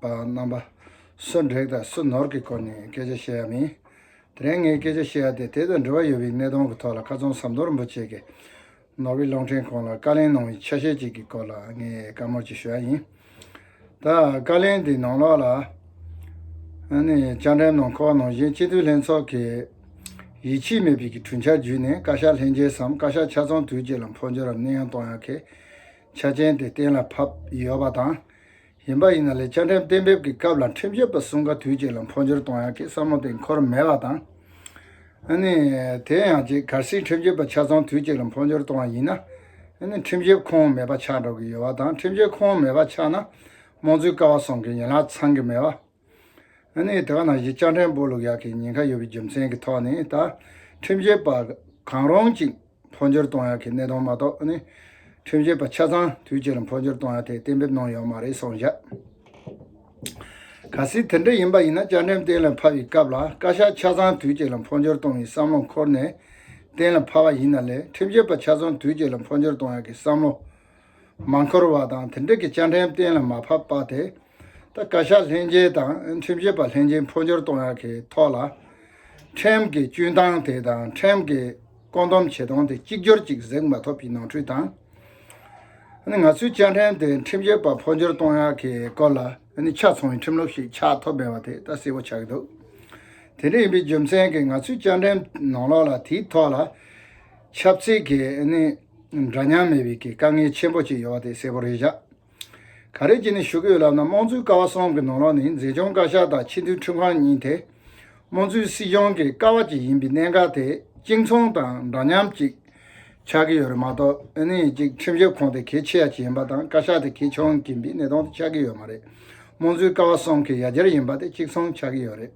པ་རྣམ་པ་སུ་འབྲེག་དང་སུ་ནོར་གྱི་སྐོར་ནས་སྐད་ཆ་བཤད་ཡ་མིན། དེ་རིང་ངས་སྐད་ཆ་བཤད་ཡ་དེ་དེ་དང་འབྲེལ་བ་ཡོད་པའི་གནད་དོན་གྱི་ཐོག་ལ་བཀའ་ཙོང་ཟམ་གཏོར་རིན་པོ་ཆེ་གིས་ནོར་བྷེལ་གློག་འཕྲིན་ཁང་ལ་བཀའ་ལན་གནང་བའི་ཆ་ཤས་གཅིག་གི་སྐོར་ལ་ངས་བཀའ་མོལ་གཅིག་ཞུ་ཡ་ཡིན། ད་བཀའ་ལན་དེའི་ནང་ལོགས་ལ་ནས་བཅར་འདྲི་གནང་ཁོག་ནང་བཞིན་སྤྱི་འཐུས་ལྷན་ཚོགས་ཀྱི་ཡིད་ཆེས་མེད་པའི་གྲུས་འཆར་བརྒྱུད་ནས་བཀའ་ཤག་ལྷན་རྒྱས་སམ་བཀའ་ཤག་ཆ་ཚང་དུས་གཅིག་ལ་འཕོ་འགྱུར་རམ་གནས་དབྱུང་གཏོང་ཡ་གི་ཆ་རྐྱེན་དེ་གཏན་ལ་ཕབ་ཡོད་པ་དང། ཡིན་པ་ཡིན་ན་ལས་བཅའ་ཁྲིམས་གཏན་འབེབས་ཀྱི་སྐབས་ལ་ཁྲིམས་ཞིབ་པ་གསུམ་ག་དུས་གཅིག་ལ་འཕོ་འགྱུར་གཏོང་ཡག་གི་བསམ་བློ་དེ་འཁོར་མེད་པ་དང། ནི། དེ་ཡང་གཅིག་གལ་སྲིད་ཁྲིམས་ཞིབ་པ་ཆ་ཚང་དུས་གཅིག་ལ་འཕོ་འགྱུར་གཏོང་བ་ཡིན་ན། ནི་ཁྲིམས་ཞིབ་ཁོངས་མེད་པ་ཆགས་འགྲོ་གི་ཡོད་པ་དང་ཁྲིམས་ཞིབ་ཁོངས་མེད་པ་ཆགས་ན། རྨོངས་ཚུལ་དཀའ་བ་སོང་གི་ཡན་ལག་ཚང་གི་མེད་པ། ཨ་ནི་དག་ན་གཞི་ལྕགས་ཕྲན་བུ་ལུག་ཡག་གི་ཉེན་ཁ་ཡོད་པའི་རྒྱུ་མཚན་གྱི་ཐོག་ནས་ད་ཁྲིམས་བྱེད་པ་གང་རུང་གཅིག་འཕོ་འགྱུར་གཏོང་ཡག་གི་གནད་དོན་མ་གཏོགས་ཨ་ནི་ཁྲིམས་བྱེད་པ་ཆ་ཚང་དུས་གཅིག་ལ་འཕོ་འགྱུར་གཏོང་ཡག་དེ་གཏན་འབེབས་གནང་ཡོད་མ་རེད་སོང་བཞག། གལ་སྲིད་དེ་འདྲ་ཡིན་པ་ཡིན་ན་ལྕགས་ཕྲན་གཏན་ལ་ཕབ་པའི་སྐབས་ལ་བཀའ་ཤག་ཆ་ཚང་དུས་གཅིག་ལ་འཕོ་འགྱུར་གཏོང་བའི་བསམ་བློ་འཁོར་ནས་གཏན་ལ་ཕབ་པ་ཡིན་ན་ལས་ཁྲིམས་བྱེད་པ་ཆ་ཚང་དུས་གཅིག་ལ་འཕོ་འགྱུར་གཏོང་ཡག་གི་བསམ་བློ་མ་འཁོར་བ་དང་དེ་འདྲ་གི་ལྕགས་ཕྲན་གཏན་ལ་མ་ཕབ་པ་དེ་ད་བཀའ་ཤག་ལྷན་རྒྱས་དང་ཁྲིམས་ཞིབ་པ་ལྷན་རྒྱས་འཕོ་འགྱུར་གཏོང་ཡག་གི་ཐོག་ལ། ཁྲིམས་ཀྱི་སྤྱོད་སྟངས་དེ་དང་ཁྲིམས་ཀྱི་བཀོད་འདོམས་བྱེད་སྟངས་དེ་གཅིག་གྱུར་ཅིག་གཟིགས་མ་ཐུབ་པའི་ནོར་འཁྲུལ་དང། ང་ཚོའི་བཅའ་ཁྲིམས་དེ་ཁྲིམས་ཞིབ་པ་འཕོ་འགྱུར་གཏོང་ཡག་གི་སྐོར་ལ་ཆ་མཚོན་བའི་ཁྲིམས་ལུགས་ཤིག་ཆགས་ཐུབ་མེད་པ་དེ་ད་གསལ་བོ་ཆགས་ཀྱི་འདུག་དེ་འདྲ་ཡིན་པའི་རྒྱུ་མཚན་གྱིས་ང་ཚོའི་བཅའ་ཁྲིམས་ནང་ལོགས་ལ་དེའི་ཐོག་ལ་ཆབ་སྲིད་ཀྱི་འདྲ་མཉམ་མེད་པའི་གི་དཀའ་ངལ་ཆེན་པོ་ཅིག་ཡོད་པ་དེ་གསལ་བོར་རེད་བཞག་ག་རེ་བགྱིས་ནས་བཞུགས་ཀྱི་ཡོད་ལབ་ན་དམངས་གཙོའི་ཀ་བ་གསུམ་གྱི་ནང་ལོགས་ནི་མཛེས་ལྗོངས་བཀའ་ཤག་དང་ཕྱི་འཐུས་ཁྲི་འཕང་གཉིས་དེ་དམངས་གཙོའི་སྲིད་གཞུང་གི་ཀ་བ་གཅིག་ཡིན་པའི་གནད་འགག་དེ་གཅིག་མཚུངས་དང་འདྲ་མཉམ་ཅིག་ཆགས་ཀྱི་ཡོད་རེད་མ་གཏོགས་ཨ་ནི་གཅིག་ཁྲིམས་ཞིབ་ཁང་དེ་གལ་ཆེ་ཡ་ཆེ་ཡིན་པ་དང་བཀའ་ཤག་དེ་གལ་ཆུང་གིན་པའི་གནད་དོན་དེ་ཆགས་ཀྱི་ཡོད་མ་རེད་དམངས་གཙོའི་ཀ་བ་གསུམ་གྱི་ཡ་གྱལ་ཡིན་པ་དེ་གཅིག་མཚུངས་ཆགས་ཀྱི་ཡོད་རེད།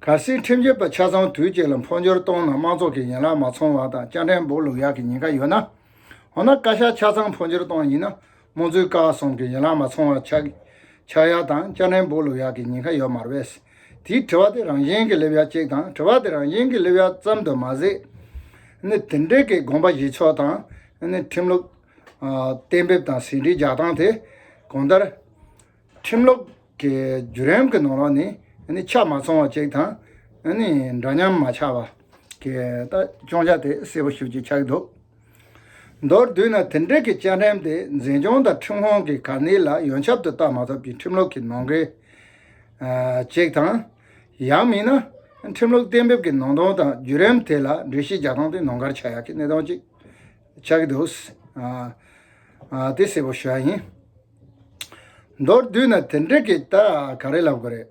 གལ་སྲིད་ཁྲིམས་བྱོལ་བ་ཆ་ཚང་དུས་གཅིག་ལ་འཕོ་འགྱུར་གཏོང་ན་དམངས་ཚོགས་ཀྱི་ཡན་ལག་མ་ཚང་བ་དང་སྤྱང་གྲན་འབོག་ལུག་ཡག་གི་ཉེན་ཁ་ཡོད་ན། འོ་ན་བཀའ་ཤག་ཆ་ཚང་འཕོ་འགྱུར་གཏོང་ཡིན་ན་རྨོངས་ཚུལ་བཀག་གསུམ་གྱི་ཡན་ལག་མ་ཚང་བ་ཆགས་ཆགས་ཡག་དང་སྤྱང་གྲན་འབོག་ལུག་ཡག་གི་ཉེན་ཁ་ཡོད་མར་བས། དེའི་དྲི་བ་དེ་རང་བཞིན་གྱི་སླེབས་ཡ་གཅིག་དང་དྲི་བ་དེ་རང་བཞིན་གྱི་སླེབས་ཡ་ཙམ་དུ་མ་ཟད། ནི་དེ་འབྲེལ་གྱི་དགོངས་པ་བཞེས་ཕྱོགས་དང་ནི་ཁྲིམས་ལུགས་གཏན་འབེབས་དང་ཟིན་བྲིས་རྒྱག་སྟངས་དེ་གང་ལྟར། ཁྲིམས་ལུགས་ཀྱི་བརྒྱུད་རིམ་གྱི་ནང་ལོགས་ནས་ཆ་མ་ཚང་བ་ཅིག་དང། འདྲ་མཉམ་མ་ཆགས་པ་གི་སྐྱོང་ཆ་དེ་གསལ་པོ་ཤུགས་ཀྱིས་ཆགས་འདུག་མདོར་བསྡུས་ན་དེ་འབྲེལ་གྱི་བཅའ་ཁྲིམས་དེ་འཛིན་སྐྱོང་དང་ཁྲིམས་ཁང་གི་གར་སྣེ་ལ་ཡོན་ཆབ་ཏུ་བལྟ་མ་ཐུབ་ཀྱི་ཁྲིམས་ལུགས་ཀྱི་ནང་འགལ་ཅིག་དང། ཡང་མིན་ན་ཁྲིམས་ལུགས་གཏན་འབེབས་ཀྱི་ནང་དོན་དང་བརྒྱུད་རིམ་དེ་ལ་འགྲེལ་བཤད་རྒྱག་སྟངས་དེ་ནོར་འགར་ཆགས་ཡག་གི་གནད་དོན་ཅིག་ཆགས་ཀྱི་འདུག་དེ་གསལ་པོ་ཞུ་བ་ཡིན། མདོར་བསྡུས་ན་དེ་འདྲ་གི་ད་ག་རེ་ལབ་དགོས་རེད།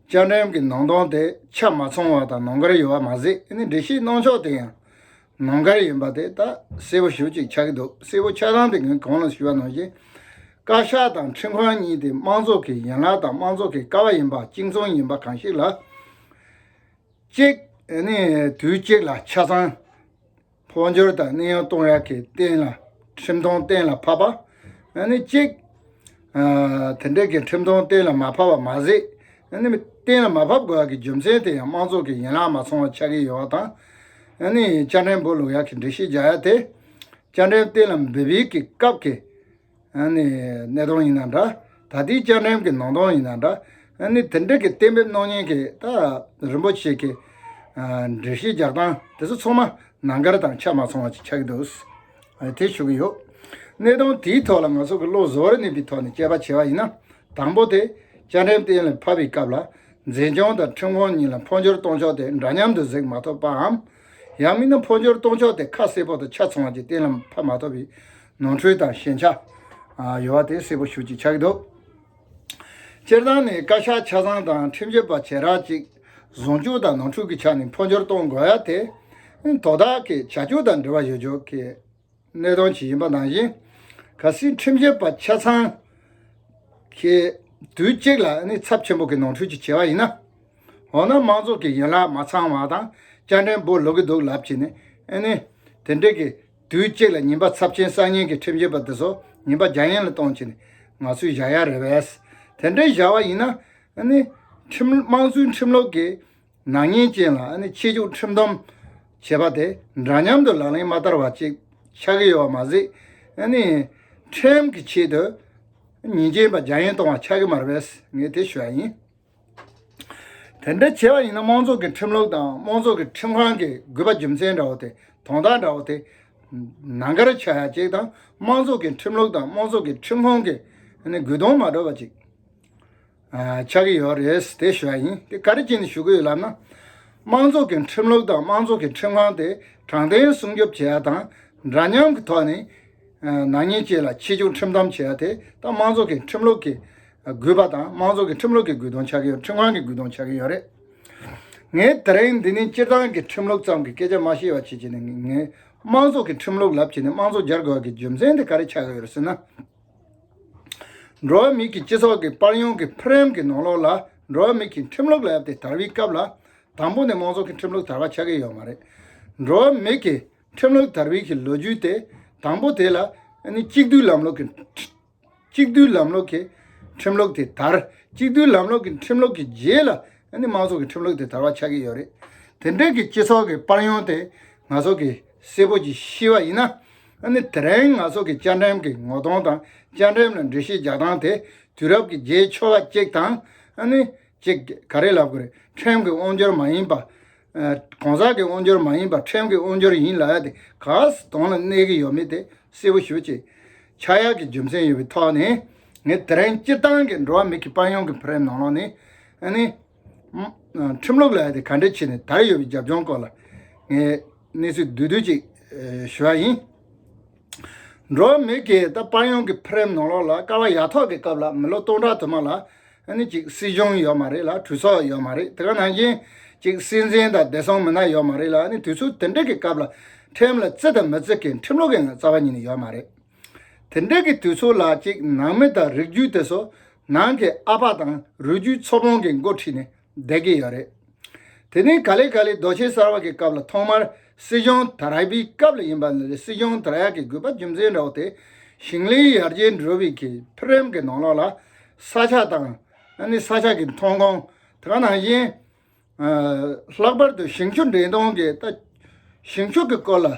བཅའ་ཁྲིམས་ཀྱི་ནང་དོན་དེ་ཆ་མ་ཚང་བ་དང་ནོར་འགར་ཡོད་པ་མ་ཟད་འདྲི་གཞིའི་གནང་ཕྱོགས་དེ་ཡང་ནོར་འགར་ཡིན་པ་དེ་ད་གསལ་བོ་ཞུ་ཅིག་ཆགས་ཀྱི་འདུག་གསལ་བོ་ཆགས་སྟངས་དེ་ངས་གང་ལ་ཞུ་བ་ནང་བཞིན། བཀའ་ཤག་དང་ཁྲིམས་ཁང་གཉིས་དེ་དམངས་གཙོ་གི་ཡན་ལག་དང་དམངས་གཙོ་གི་ཀ་བ་ཡིན་པ་གཅིག་མཚུངས་ཡིན་པ་གང་ཞིག་ལ། གཅིག་ནི་དུས་གཅིག་ལ་ཆ་ཚང། འཕོ་འགྱུར་དང་གནས་དབྱུང་གཏོང་རག་གི་སྟེང་ལ་ཁྲིམས་མཐོང་གཏན་ལ་ཕབ་པ། གཅིག། དེ་འབྲེལ་གྱི་ཁྲིམས་མཐོང་གཏན་ལ་མ་ཕབ་པ་མ་ཟད། གཏན་ལ་མ་ཕབ་དགོས་པ་གི་རྒྱུ་མཚན་དེ་ཡང་དམངས་གཙོ་གི་ཡན་ལག་མ་ཚང་བ་ཆགས་ཀྱི་ཡོད་པ་དང། བཅའ་ཁྲིམས་འབུལ་ལོ་ཡག་གི་འདྲི་གཞི་རྒྱག་ཡ་དེ། བཅའ་ཁྲིམས་གཏན་ལ་འབུལ་འབུལ་གི་སྐབས་ཀྱི། གནས་སྟངས་ཡིན་ན་འདྲ་ད་ལྟའི་བཅའ་ཁྲིམས་ཀྱི་ནང་དོན་ཡིན་ན་འདྲ། དེ་འབྲེལ་གྱི་གཏན་འབེབས་གནང་མྱོང་མཁན་ད་རིན་པོ་ཆེ་གི་འགྲེལ་བཤད་རྒྱག་སྟངས་དེ་ཚོ་ཚང་མ་ནང་འགལ་དང་ཆ་མ་ཚང་བ་ཅིག་ཆགས་ཀྱི་འདུག་དེ་ཞུ་གི་ཡོད། གནས་སྟངས་དེའི་ཐོག་ལ་ང་ཚོ་གི་བློ་བཟོ་བར་གནས་པའི་ཐོག་ནས་དཔྱད་པ་བྱས་པ་ཡིན་ན། དང་པོ་དེ་བཅའ་ཁྲིམས་གཏན་ལ་ཕབ་པའི་སྐབས་ལ་མཛེས་ལྗོངས་དང་ཁྲིམས་ཁང་གཉིས་ལ་འཕོ་འགྱུར་གཏོང་ཕྱོགས་དེ་འདྲ་མཉམ་དུ་གཟིགས་མ་ཐོབ་པའམ། ཡང་མིན་ན་འཕོ་འགྱུར་གཏོང་ཕྱོགས་དེ་ཁ་གསལ་པོ་དང་ཆ་ཚང་བ་ཅིག་གཏན་ལ་ཕབ་མ་ཐོབ་པའི་ནོར་འཁྲུལ་དང་ཞན་ཆ་ཡོད་པ་དེ་གསལ་པོ་ཞུ་ཅིག་བྱ་གི་འདུག་སྤྱིར་བཏང་ནས་བཀའ་ཤག་ཆ་ཚང་དང་ཁྲིམས་བཅོས་པ་བྱེད་རག་ཅིག་ཟུང་འཇུག་དང་ནོར་འཁྲུལ་གྱི་ཆ་ནས་འཕོ་འགྱུར་གཏོང་དགོས་ཡ་དེ་དོ་བདག་གི་བྱ་སྤྱོད་དང་འབྲེལ་བ་ཡོད་ཆོག་གི་གནད་དོན་ཞིག་ཡིན་པ་ནང་བཞིན་ག་སྲིད་ཁྲིམས་བཅོས་པ་ཆ་ཚང་གིས་དུས་གཅིག་ལ་ཚབས་ཆེན་པོ་གི་ནོར་འཁྲུལ་ཅིག་བྱས་པ་ཡིན་ན་འོ་ན་མང་ཚོགས་ཀྱི་ཡན་ལག་མ་ཚང་བ་དང་སྐྱ་འགྲེམས་པོ་ལོག་གི་འདུག་ལབ་ཅིག་ནས་དེ་འདྲའི་གི། དུས་གཅིག་ལ་ཉིན་པ་ཚབས་ཆེན་གསར་རྙིང་གི་ཁྲིམས་བཞེས་པ་འདི་ཚོ་ཉིན་པ་བརྒྱ་ཡན་ལ་གཏོང་བྱེད་ནི་ང་ཚོའི་བཞག་ཡ་རེད་བས། དེ་འདྲའི་བཞག་བ་ཡིན་ན། དམངས་གཙོའི་ཁྲིམས་ལུགས་ཀྱི་ནག་ཉེས་ཅན་ལ་ཕྱི་རྒྱུག་ཁྲིམས་སྡོམ་བྱེད་པ་དེ་འདྲ་མཉམ་དུ་ལག་ལེན་མ་བསྟར་བ་ཅིག་ཆགས་ཀྱི་ཡོད་པ་མ་ཟད། ཁྲིམས་ཀྱི་ཆེད་དུ་ཉིན་རྗེན་པ་བརྒྱ་ཡན་གཏོང་བ་ཆགས་ཀྱི་མ་རེད་བས་ངས་དེ་ཞུ་ཡ་ཡིན། དེ་འདྲ་བྱས་པ་ཡིན་ན་དམངས་ཚོགས་ཀྱི་ཁྲིམས་ལུགས་དང་དམངས་ཚོགས་ཀྱི་ཁྲིམས་ཁང་གི་རྒུད་པ་རྒྱུ་མཚན་འདྲ་བོ་དེ་དོན་དག་འདྲ་བོ་དེ་ནང་ཁར་ཆགས་ཡ་གཅིག་དང་དམངས་ཚོགས་ཀྱི་ཁྲིམས་ལུགས་དང་དམངས་ཚོགས་ཀྱི་ཁྲིམས་ཁང་གི་རྒུད་དོན་མ་གྲོགས་པ་གཅིག་ཆགས་ཀྱི་ཡོད་རེད་དེ་ཞུ་བ་ཡིན་དེ་ག་རེ་གཅིག་ནས་ཞུ་གི་ཡོད་ལབ་ན། དམངས་ཚོགས་ཀྱི་ཁྲིམས་ལུགས་དང་དམངས་ཚོགས་ཀྱི་ཁྲིམས་ཁང་དེ་དྲང་བདེན་སྲུང་སྐྱོབ་བྱེད་ཡ་དང་འདྲ་མཉམ་གྱི་ཐོག་ནས་ནག་ཉེས་བཅས་ལ་ཕྱི་བཅུག་ཁྲིམས་གཏམ་བྱེད་ཡ་དེ་ད་དམངས་ཚོགས་ཀྱི་ཁྲིམས་ལུགས་ཀྱི་དགོས་པ་དང་དམངས་ཚོགས་ཀྱི་ཁྲིམས་ལུགས་ཀྱི་དགོས་དོན་ཆགས་ཀྱི་ཡོད་ཁྲིམས་ཁང་གི་དགོས་དོན་ཆགས་ཀྱི་ཡོད་རེད། ངས་དེ་རིང་འདི་ནས་སྤྱིར་བཏང་གི་ཁྲིམས་ལུགས་ཙམ་གྱི་སྐད་ཆ་མ་བཤད་བར་ཆེད་བྱས་ནས་ངས་དམངས་ཚོགས་ཀྱི་ཁྲིམས་ལུགས་ལབ་བྱས་ནས་དམངས་ཚོགས་སྦྱར་དགོས་པ་གི་རྒྱུ་མཚན་དེ་ག་རེ་ཆགས་ཀྱི་ཡོད་རེད་ཟེར་ན། འགྲོ་བ་མི་གི་སྤྱི་ཚོགས་ཀྱི་པར་ཡོང་གི་ཕུ་རེམ་གི་ནོར་ལོག་ལ་འགྲོ་བ་མི་གི་ཁྲིམས་ལུགས་ལབ་སྟེ་དར་བའི་སྐབས་ལ་དང་པོ་ནས་དམངས་ཚོགས་ཀྱི་ཁྲིམས་ལུགས་དར་བ་ཆགས་ཀྱི་ཡོད་མ་རེད། འགྲོ་བ་མི་གི་ཁྲིམས་ལུགས་དར་བའི་གི་ལོ་རྒྱུས་དེ་དང་པོ་དེ་ལ་ནི་གཅིག་སྡུད་ལམ་ལུགས་ཀྱི། གཅིག་བསྡུས་ལམ་ལུགས་ཀྱི་ཁྲིམས་ལུགས་དེ་དར། གཅིག་བསྡུས་ལམ་ལུགས་ཀྱི་ཁྲིམས་ལུགས་ཀྱི་རྗེས་ལ་མང་ཚོགས་ཀྱི་ཁྲིམས་ལུགས་དེ་དར་བ་ཆགས་ཀྱི་ཡོད་རེད། དེ་འདྲ་གི་སྤྱི་ཚོགས་ཀྱི་པར་ཡོང་དེ་ང་ཚོ་གི་སེར་པོ་གྱི་ཤི་བ་ཡིན་ན། དེ་རིང་ང་ཚོ་གི་བཅའ་འགྲེམས་ཀྱི་ངོ་གདོང་དང་བཅའ་འགྲེམས་ལ་འགྲེལ་བཤད་རྒྱག་སྟངས་དེ་དུས་རབས་ཀྱི་རྗེས་ཆོ་ག་ཅིག་དང། ཅིག་ག་རེ་ལབ་དགོས་རེད་ཁྲིམས་ཀྱི་དབང་འབྱོར་མ་ཡིན་པ། གང་ཟག་གི་དབང་འབྱོར་མ་ཡིན་པར་ཕྲན་གྱི་དབང་འབྱོར་ཡིན་ལ་དེ་ག་དོན་ལ་གནས་ཀྱི་ཡོད་མེད་དེ་གསལ་བོ་ཞུ་ཅིག། ཕྱག་གཡས་ཀྱི་རྒྱུ་མཚན་ཡོད་པའི་ཐོག་ནས་ངས་དེ་རིང་སྤྱིར་བཏང་གི་འགྲོ་བ་མི་གི་པར་ཡོང་གི་བར་ནང་ལོགས་ནས། ཁྲིམས་ལུགས་ལ་ག་འདྲའི་ཆེད་ནས་དར་ཡོད་པའི་རྒྱབ་ལྗོངས་སྐོར་ལ་ངས་གནས་ཚུལ་བསྡུས་བསྡུས་ཅིག་ཞུ་བ་ཡིན། འགྲོ་བ་མི་གིས་ད་པར་ཡོང་གི་བར་ནང་ལོགས་ལ་སྐར་བ་ཡ་ཐོག་གི་སྐབས་ལ་མི་ལོ་སྟོང་ཕྲག་དུ་མ་ལ། ཨ་ནི་གཅིག་སྲིད་གཞུང་ཡོད་མ་རེད་ལ་གྲོས་ཚོགས་ཡོད་མ་རེད་དེ་ག་ནང་བཞིན་གཅིག་སྲིད་འཛིན་དང་བདེ་སྲུང་མི་སྣ་ཡོད་མ་རེད་ལ་ཨ་ནི་དུས་ཚོད་དེ་འདྲ་གི་སྐབས་ལ་ཁྲིམས་ལ་བརྩི་དང་མི་བརྩི་གི་ཁྲིམས་ལུགས་ཀྱི་ངང་རྩ་བ་ཉིད་ནས་ཡོད་མ་རེད། དེ་འདྲ་གི་དུས་ཚོད་ལ་གཅིག་ནང་མི་དང་རིགས་རྒྱུད་དེ་ཚོ་ནང་གི་ཨ་ཕ་དང་རུས་རྒྱུད་ཚོ་ཕོང་གི་མགོ་ཁྲིད་ནས་བསྡད་ཀྱི་ཡོད་རེད། དེ་ནི་ག་ལེ་ག་ལེ་རྡོ་ཆེན་གསར་བ་གི་སྐབས་ལ་ཐོག་མར་སྲིད་གཞུང་དར་ཡག་པའི་སྐབས་ལ་ཡིན་པ་ནི་རེད་སྲིད་གཞུང་དར་ཡག་གི་དགོས་པ་རྒྱུ་མཚན་འདྲ་བོ་དེ་ཞིང་ལས་ཡར་རྒྱས་འགྲོ་བའི་གི་ཕི་རིམ་གི་ནང་ལོགས་ལ་ས་ཆ་དང། ནི་ས་ཆ་གི་ཐོན་ཁུངས་དེ་ག་ནང་བཞིན། ལྷག་པར་དུ་ཞིང་ཕྱུགས་འདྲེན་གཏོང་གི་ལྟ་ཞིང་ཕྱུགས་གི་སྐོར་ལ།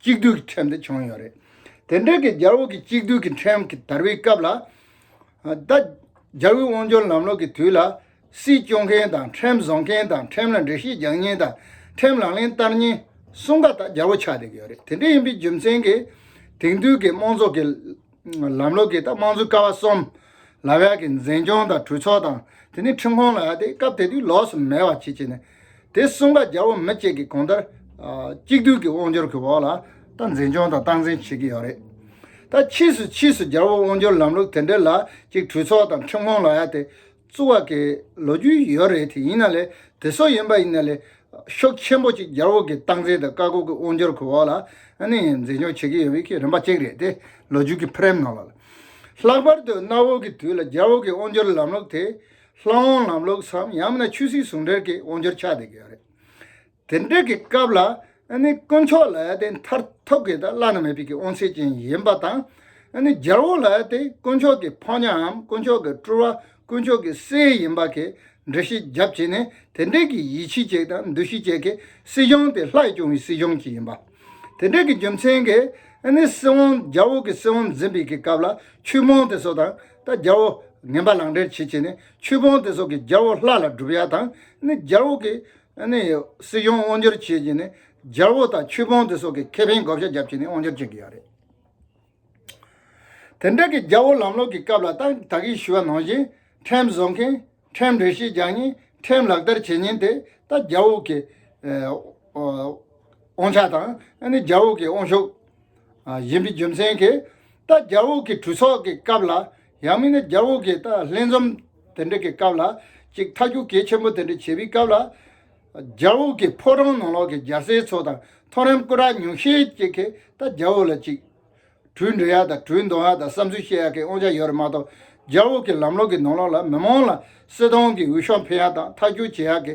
གཅིག་སྡུད་ཀྱི་ཁྲིམས་དེ་བྱུང་ཡོད་རེད། དེ་འབྲེལ་གྱི་རྒྱལ་ཨུ་ཀྱི་གཅིག་སྡུད་ཀྱི་ཁྲིམས་ཀྱི་དར་བའི་སྐབས་ལ། ད་རྒྱལ་ཨུའི་དབང་སྒྱུར་ལམ་ལུགས་ཀྱི་དུས་ལ། སྲིད་སྐྱོང་མཁན་དང་ཁྲིམས་བཟོ་མཁན་དང་ཁྲིམས་ལ་འགྲེལ་བཤད་རྒྱག་ཉིན་དང་ཁྲིམས་ལག་ལེན་བསྟར་ཉིན་གསུམ་ཀ་ད་རྒྱལ་ཨུ་ཆགས་བསྡད་ཀྱི་ཡོད་རེད། དེ་འདྲ་ཡིན་པའི་རྒྱུ་མཚན་གྱིས་དེང་དུས་ཀྱི་དམངས་ཚོགས་ཀྱི། ལམ་ལུགས་ཀྱི་དམངས་གཙོའི་ཀ་བ་གསུམ། ལ་བས་ཀྱི་འཛིན་སྐྱོང་དང་གྲོས་ཚོགས་དང་དེ་ནས་ཁྲིམས་ཁང་ལ་ཡ་སྟེ་སྐབས་དེ་དུས་ལོགས་སུ་མེད་པ་བྱེད་ཅེས་ནས། དེ་གསུམ་ཀ་རྒྱལ་པོ་མི་གཅིག་གིས་གོང་ལྟར། གཅིག་བསྡུས་ཀྱི་དབང་སྒྱུར་གྱི་འོག་ལ་ད་འཛིན་སྐྱོང་དང་སྟངས་འཛིན་བྱེད་ཀྱི་ཡོད་རེད། ད་ཕྱིས་སུ་ཕྱིས་སུ་རྒྱལ་པོ་དབང་སྒྱུར་ལམ་ལུགས་དེ་འདྲ་ལ་གཅིག་གྲོས་ཚོགས་དང་ཁྲིམས་ཁང་ལ་ཡ་སྟེ། བཙུགས་བ་གི་ལོ་རྒྱུས་ཡོད་རེད་དེ་ཡིན་ན་ལེ་དེ་སོགས་ཡིན་པ་ཡིན་ན་ལེ་ཤོག་ཆེན་པོ་གཅིག་རྒྱལ་བོ་གི་སྟངས་འཛིན་དང་བཀའ་བསྒོ་གི་དབང་འབྱོར་གི་འོག་ལ་ནི་འཛིན་སྐྱོང་བྱེད་ཀྱི་ཡོད་པའི་གི་རིམ་པ་གཅིག་རེད་དེ་ལོ་རྒྱུས་གི་ཕེར་ནང་ལ་ལྷག་པར་དུ་གནའ་བོ་གི་དུས་ལ་རྒྱལ་བོ་གི་དབང་འབྱོར་ལམ་ལུགས་དེ་ལྷ་དབང་ལམ་ལུགས་སམ་ཡང་མིན་ན་ཆོས་སྲིད་ཟུང་འབྲེལ་གི་དབང་འབྱོར་ཆགས་བསྡད་ཀྱི་ཡོད་རེད། དེ་འདྲ་གི་སྐབས་ལ་དཀོན་མཆོག་ལ་མཐར་ཐུག་གི་བླ་ན་མེད་པའི་དབང་ཤེས་ཅན་ཡིན་པ་དང། རྒྱལ་བོ་ལ་དཀོན་མཆོག་གི་ཕོ་ཉའམ་དཀོན་མཆོག་གི་སྤྲུལ་བ་དཀོན་མཆོག་གི་སྲས་ཡིན་པ་གི་འགྲེལ་བཤད་རྒྱབ་བྱེད་ནི་དེ་འདྲ་གི་ཡིད་ཆེས་བཅས་དང་འདུ་ཤེས་བཅས་ཀྱི་སྲིད་གཞུང་དེ་ལྷག་སྐྱོང་བའི་སྲིད་གཞུང་གཅིག་ཡིན་པ། དེ་འདྲ་གི་རྒྱུ་མཚན་གི་སྲིད་དབང་རྒྱལ་བོ་གི་སྲིད་དབང་འཛིན་པའི་གི་སྐབས་ལ་ཆོས་དཔོན་དེ་སོགས་དང་ད་རྒྱལ་བོ་ངན་པ་ལག་འབྲེལ་བྱེད་བྱེད་ནི་ཆོས་དཔོན་དེ་སོགས་གི་རྒྱལ་བོ་ལྷ་ལ་སྒྲུབ་ཡ་དང་རྒྱལ་བོ་གི་སྲིད་གཞུང་དབང་སྒྱུར་བྱེད་ཀྱི་ནི་རྒྱལ་པོ་དང་ཆོས་དཔོན་དེ་སོགས་ཀྱི་ཁེ་ཕན་བགོ་བཤའ་རྒྱབ་ཀྱི་ནི་དབང་སྒྱུར་བྱེད་ཀྱི་ཡོད་རེད། དེ་འདྲ་གི་རྒྱལ་པོ་ལམ་ལོག་གི་སྐབས་ལ་ཏང་དག་གིས་ཞུ་བ་ནང་བཞིན་ཁྲིམས་བཟོ་མཁན་ཁྲིམས་འགྲེལ་བཤད་རྒྱག་ཉིན་ཁྲིམས་ལག་བསྟར་བྱེད་ཉིན་དེ་ལྟ་རྒྱལ་པོ་གི་དབང་ཆ་དང་རྒྱལ་པོ་གི་དབང་ཤུགས། ཡིན་པའི་རྒྱུ་མཚན་གྱིས་ལྟ་རྒྱལ་པོ་གི་གྲོས་ཚོགས་ཀྱི་སྐབས་ལ་ཡང་མིན་ན་རྒྱ་འོག་གི་ཏཱ་ལྷན་འཛོམས་དེ་འདྲ་གི་སྐབས་ལ་ཅིག་མཐའ་རྒྱུགས་གལ་ཆེན་པོ་དེ་འདྲ་བྱས་པའི་སྐབས་ལ། རྒྱ་འོག་གི་ཕོ་བྲང་ནང་ལོག་གི་རྒྱ་ཟས་ཚོ་དང་མཐོ་རིམ་སྐུ་དྲག་ཉུང་ཤས་ཅིག་གིས་ད་རྒྱ་འོག་ལ་ཅིག། གྲུ་འདྲི་ཡག་དང་གྲུ་འདོན་ཡག་དང་བསམ་ཚུལ་བཤད་ཡག་གི་དབང་ཆ་ཡོད་རེད་མ་གཏོགས་རྒྱ་འོག་གི་ལམ་ལོག་གི་ནང་ལོག་ལ་མི་མང་ལ་སྲིད་ཏང་གི་འོས་ཤོག་འཕེན་ཡག་དང་མཐའ་རྒྱུགས་བྱེད་ཡག་གི་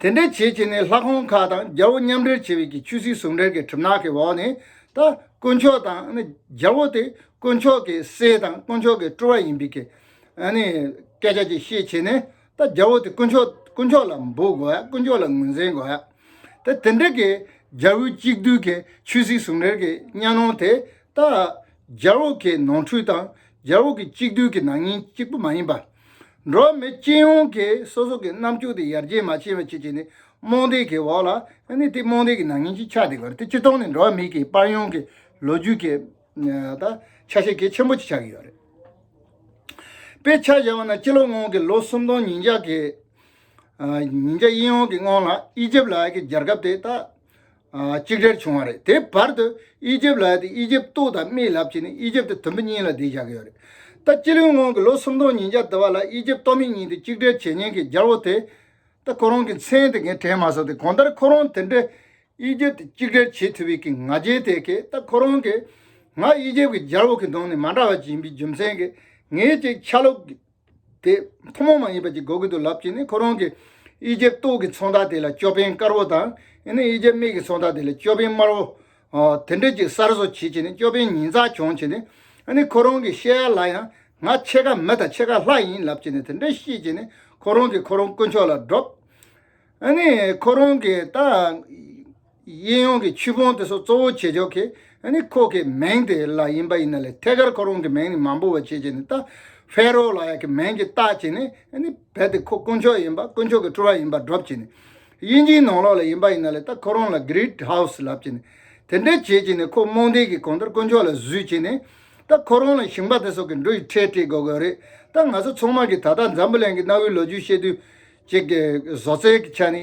དེ་འདྲའི་བྱེད་བྱེད་ནི་ལྷ་ཁང་ཁག་དང་རྒྱལ་བོ་མཉམ་འབྲེལ་བྱས་པའི་གི་ཆུ་སྲིད་ཟུང་འབྲེལ་གྱི་གྲིབ་ནག་གི་འོག་ནས་ད་དཀོན་མཆོག་དང་རྒྱལ་བོ་དེ་དཀོན་མཆོག་གི་སྲས་དང་དཀོན་མཆོག་གི་སྤྲུལ་བ་ཡིན་པའི་གི་སྐད་ཆ་གཅིག་བཤད་བྱེད་ནས་ད་རྒྱལ་བོ་དེ་དཀོན་མཆོག་དཀོན་མཆོག་ལ་འབུལ་དགོས་ཡ་དཀོན་མཆོག་ལ་ངོས་འཛིན་དགོས་ཡ་ད་དེ་འདྲའི་གི་རྒྱལ་བོའི་གཅིག་བསྡུས་གི་ཆུ་སྲིད་ཟུང་འབྲེལ་གི་གཉའ་ནོར་དེ་ད་རྒྱལ་བོ་གི་ནོར་འཁྲུལ་དང་རྒྱལ་བོ་གི་གཅིག་བསྡུས་གི་ནག་ཉེས་གཅིག་པུ་མ་ཡིན་པ། འགྲོ་བ་མི་སྤྱི་ཡོངས་ཀྱིས་སོ་སོ་གི་རྣམ་འགྱུར་དེ་ཡར་རྒྱས་མ་བྱས་པའི་ཆེད་ཀྱི་ནི་རྨོངས་དད་ཀྱི་འོག་ལ་ནི་དེ་རྨོངས་དད་ཀྱི་ནང་ཉིད་ཅིག་ཆགས་ཏེ་གར་དེ་སྤྱི་སྟོང་ནས་འགྲོ་བ་མི་གི་དཔར་ཡོངས་ཀྱི་ལོ་རྒྱུས་ཀྱི་ཆ་ཤས་གལ་ཆེན་པོ་ཅིག་ཆགས་ཀྱི་ཡོད་རེད། དཔེར་ཆ་བཞག་པ་ན་སྤྱི་ལོ་སྔོན་གྱི་ལོ་སུམ་སྟོང་ཉིས་བརྒྱ་ཉིས་བརྒྱ་ཡི་ཡོངས་ཀྱི་སྔོན་ལ་ཨི་ཇིབ་ལ་ཡི་གེ་སྦྱར་སྐབས་དེ་དག་གཅིག་སྒྲིལ་བྱུང་བ་རེད་དེ་བར་དུ་ཨི་ཇིབ་ལ་ཡོད་དེ་ཨི་ཇིབ་ཏུ་དང་མིའི་ལབ་བྱས་ནས་ཨི་ཇིབ་ཏུ་དུམ་བུ་གཉིས་ལ་བསྡད་བཞག་གི་ཡོད་རེད་ད་སྤྱི་ལོའི་སྔོན་གྱི་ལོ་སུམ་སྟོང་ཉིས་བརྒྱ་དུ་བ་ལ་ཨི་ཇིབ་ཏོ་མི་གཉིས་དེ་གཅིག་སྒྲིལ་བྱེད་ཉེན་ཁའི་རྒྱལ་བོ་དེ་ད་ཁོ་རང་གི་མཚན་དེ་གས་དྲན་མ་སོང་སྟེ་གང་ལྟར་ཁོ་རང་དེ་འདྲའི་ཨི་ཇིབ་ཏུ་གཅིག་སྒྲིལ་བྱེད་ཐུབ་པའི་གི་ང་རྒྱལ་དེ་གས་ད་ཁོ་རང་གིས་ང་ཨི་ཇིབ་ཀྱི་རྒྱལ་བོ་གི་གདོང་ནས་མ་འདྲ་བ་ཅིག་ཡིན་པའི་རྒྱུ་མཚན་གས་ངས་ཅིག་ཆ་ལོག་དེ་ཐུན་མོང་མ་ཡིན་པ་ཅིག་གོ་གི་འདུག་ལབ་ཀྱིས་ནི་ཁོ་རང་གིས་དབྱིས་ཇེབ་སྟོད་ཀྱི་ཚོང་བདག་དེ་ལ་ཅོ་པན་དཀར་བོ་དང་ཨེ་ནི་དབྱིས་ཇེབ་སྨད་ཀྱི་ཚོང་བདག་དེ་ལ་ཅོ་པན་དམར་བོ། དེ་འདྲས་ཅིག་གསར་བཟོ་བྱེད་ཀྱིས་ནི་ཅོ་པན་ཉིན་ཚགས་གྱོང་བྱས་ནས་ཨེ་ནི་ཁོ་རང་གིས་བཤད་ཡ་ལ་ཡང་ང་ཕྱེད་ཀ་མི་དང་ཕྱེད་ཀ་ལྷ་ཡིན་ལབ་ཀྱིས་ནི་དེ་འདྲས་བཤད་ཀྱིས་ནི་ཁོ་རང་གིས་ཁོ་རང་དཀོན་མཆོག་ལ་སྒྲོབས། ཨེ་ནི་ཁོ་རང་གིས་ད། གཡས་གཡོན་གྱི་ཆུ་བོང་དེ་སོགས་གཙོ་བོ་བྱེད་ཆོག་གི། ནི་ཁོག་གི་མེང་དེ་ལ་ཡིན་པ་ཡིན་ན་ལས་ཐད་ཀར་ཁོ་རང་གི་མེང་ནི་མང་པོ་བ་བྱེད་ཅེས་ནི་ལྟ། ཧྥེ་རོ་ལ་ཡ་གི་མེང་གི་རྟགས་ཀྱིས་ནི། ནི་བལ་དེ་ཁོ་དཀོན་མཆོག་ཡིན་པ་དཀོན་མཆོག་གི་སྤྲོ་བ་ཡིན་པར་སྒྲོབ་ཅེས་ནི། དབྱིན་ཇིའི་ནང་ལོགས་ལ་ཡིན་པ་ཡིན་ན་ལས་ལྟ་ཁོ་རང་ལ Great House ལབ་ཅེས་ནི། དེ་འདྲས་བྱེད་ཅེས་ནི་ཁོ་རྨོངས་དད་ཀྱི་གང་ལྟར་དཀོན་མཆོག་ལ་བཟོས་ཅེས་ནི། ལྟ་ཁོ་རང་ལ་ཞིང་པ་དེ་སོགས་ཀྱི་འགྲོ་ཡི་ཁྲལ་སྤྲད་དགོས་གི་རེད་ལྟ་ང་ཚོ་ཚང་མར་གྱི་ད་ལྟ་འཛམ་བུ་གླིང་གི་གནའ་བོའི་ལོ་རྒྱུས་བཤད་དུས། ཀྱི་བཟོ་རྩལ་གྱི་ཆ་ནི།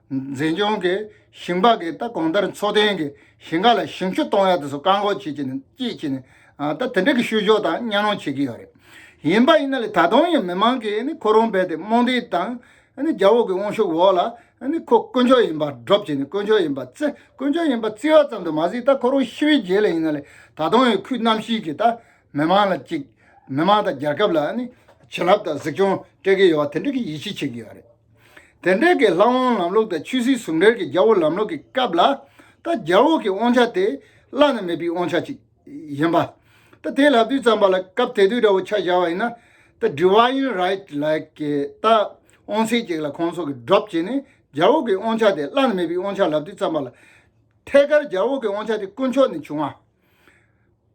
འཛིན་སྐྱོང་གིས་ཞིང་པ་གིས་ད་གོང་ལྟར་འཚོ་རྟེན་གྱི་ཞིང་ཁ་ལ་ཞིང་ཆུ་གཏོང་ཡ་དེ་ཚོ་བཀག་འགོག་བྱེད་ཀྱི་ནི་བསྐྱེད་ཀྱི་ནི་ད་དེ་འདྲ་གི་བཤུ་གཞོག་དང་གཉའ་གནོང་བྱེད་ཀྱི་ཡོད་རེད། ཡིན་པ་ཡིན་ན་ལས་ད་དུང་ཡང་མི་མང་གིས་ནི་ཁོ་རང་རྦད་དེ་རྨོངས་དད་དང་ནི་རྒྱ་འོག་གི་དབང་ཤུགས་འོག་ལ་ནི་ཁོ་དཀོན་མཆོག་ཡིན་པ་སྒྲོབ་ཀྱི་ནི་དཀོན་མཆོག་ཡིན་པ་བརྩི་དཀོན་མཆོག་ཡིན་པ་བརྩི་བ་ཙམ་དུ་མ་ཟིག་ད་ཁོ་རང་ཤི་བའི་རྗེས་ལ་ཡིན་ན་ལས་ད་དུང་ཡང་ཁུལ་རྣམ་བཞིའི་གིས་ད་མི་མང་ལ་གཅིག་མི་མང་དང་རྒྱལ་ཁབ་ལ་ནི་བྱིན་རླབས་དང་གཟིགས་སྐྱོང་སྤྲད་ཀྱི་ཡོད་བ་དེ་འདྲ་གི་ཡིད་ཆེས་བྱེད་ཀྱི་ཡོད་རེད། དེ་འབྲེལ་གྱི་ལྷ་དབང་ལམ་ལུགས་དང་ཆོས་སྲིད་ཟུང་འབྲེལ་གྱི་རྒྱལ་བོ་ལམ་ལུགས་ཀྱི་སྐབས་ལ། ད་རྒྱལ་བོ་གྱི་དབང་ཆ་དེ་བླ་ན་མེད་པའི་དབང་ཆ་ཅིག་ཡིན་པ། ད་དེ་ལབ་དུས་ཙམ་པ་ལ་སྐབས་དེ་དུས་འདྲ་བོ་ཆ་བཞག་བ་ཡིན་ན། ད Divine Right ལགས་ཀྱིས་ད་དབང་ཚད་ཅིག་ལ་ཁོང་ཚོ་གི Drop བྱས་ནས་རྒྱལ་བོ་གྱི་དབང་ཆ་དེ་བླ་ན་མེད་པའི་དབང་ཆ་ལབ་དུས་ཙམ་པ་ལ། ཐད་ཀར་རྒྱལ་བོ་གྱི་དབང་ཆ་དེ་དཀོན་མཆོག་ནས་བྱུང་བ།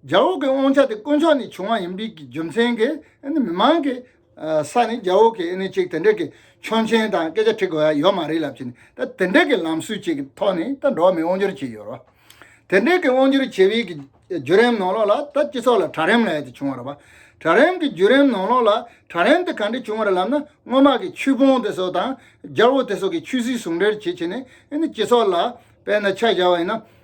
རྒྱ་འོག་གི་དབང་ཆ་དེ་དཀོན་མཆོག་ནས་བྱུང་བ་ཡིན་པའི་རྒྱུ་མཚན་གྱིས་མི་མང་གི་ས་ནས་རྒྱ་འོག་གི་ཅིག་དེ་འདྲ་གི་ཆོག་མཆན་དང་སྐད་ཆ་འཁྲི་དགོས་ཡ་ཡོད་མ་རེད་ལབ་ཀྱིན་ད་དེ་འདྲ་གི་ལམ་སྲོལ་ཅིག་གི་ཐོག་ནས་ད་འགྲོ་བ་མི་དབང་སྒྱུར་བྱས་ཡོད་རེད། དེ་འདྲ་གི་དབང་སྒྱུར་བྱས་པའི་བརྒྱུད་རིམ་ནང་ལོགས་ལ་ད་སྤྱི་ཚོགས་ལ་དྲག་རིམ་ལ་ཡ་དེ་བྱུང་བ་རེད་བ། དྲག་རིམ་གི་བརྒྱུད་རིམ་ནང་ལོགས་ལ་དྲག་རིམ་དེ་ག་འདྲ་བྱུང་བ་རེད་ལབ་ན་སྔོན་མ་གི་ཆོས་ཕུང་དེ་སོགས་དང་རྒྱ་འོག་དེ་སོགས་ཀྱི་ཆོས་སྲིད་ཟུང་འབྲེལ་བྱེད་ཆེད་ནས་སྤྱི་ཚོགས་ལ་དཔལ་ན་ཆ་བཞག་བ་ཡིན་ན།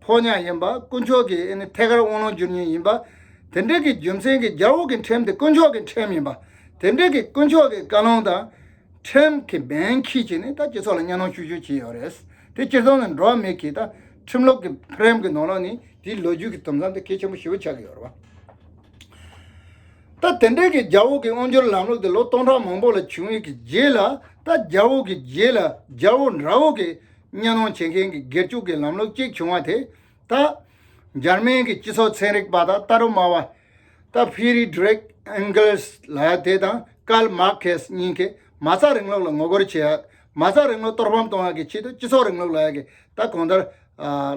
ཕོ་ཉ་ཡིན་པ་དཀོན་མཆོག་གིས་ཨེ་ནི་ཐད་ཀར་དབང་ལུང་སྒྱུར་ཉེན་ཡིན་པ། དེ་འབྲེལ་གྱི་རྒྱུ་མཚན་གྱིས་རྒྱ་འོག་གི་ཁྲིམས་དེ་དཀོན་མཆོག་གི་ཁྲིམས་ཡིན་པ། དེ་འབྲེལ་གྱི་དཀོན་མཆོག་གི་བཀའ་ལུང་དང། ཁྲིམས་གི་འབེན་ཁྱི་བྱས་ནས་ད་སྤྱི་ཚོགས་ལ་གཉའ་གནོན་ཤུགས་ཤུགས་བྱས་ཡོད་རེད། དེ་སྤྱིར་བཏང་ནི་འགྲོ་བ་མི་གིས་ད་ཁྲིམས་ལུགས་ཀྱི་ཕྲེམ་གྱི་ནོར་ལོག་ནི་དེའི་ལོ་རྒྱུས་ཀྱི་དུམ་མཚམས་དེ་གལ་ཆེན་པོ་ཞེ་བོ་ཆགས་ཀྱི་ཡོད་རེད། ད་དེ་འབྲེལ་གྱི་རྒྱ་འོག་གི་དབང་སྒྱུར་ལམ་ལུགས་དེ་ལོ་སྟོང་ཕྲག་མང་པོ་ལ་བྱུང་ཡོད་ཀྱི་རྗེས་ལ་ད་རྒྱ་འོག་གི་རྗེས་ལ་རྒྱ་འོག་འདྲ་འོག་གི་གཉའ་གནོན་བྱེད་མཁན་གྱི་སྒེར་གཅོད་ཀྱི་ལམ་ལུགས་གཅིག་བྱུང་བ་དེ་དག་འཇར་མན་གྱི་སྤྱི་ཚོགས་ཚན་རིག་པ་དང་ལྟ་རུ་སྨྲ་བ་སྟབས་བྷི་རི་ཏྲེག་ཨེན་གེལ་སི་ལ་དེ་དང་ཀརལ་མར་ཁེ་སི་གཉིས་ཀས་མ་རྩ་རིང་ལུགས་ལ་ངོ་རྒོལ་བྱེད་ཡག་མ་རྩ་རིང་ལུགས་གཏོར་ཕམ་གཏོང་ཡག་གི་ཆེད་དུ་སྤྱི་ཚོགས་རིང་ལུགས་ལ་ཡག་གི་ད་གོང་ལྟར་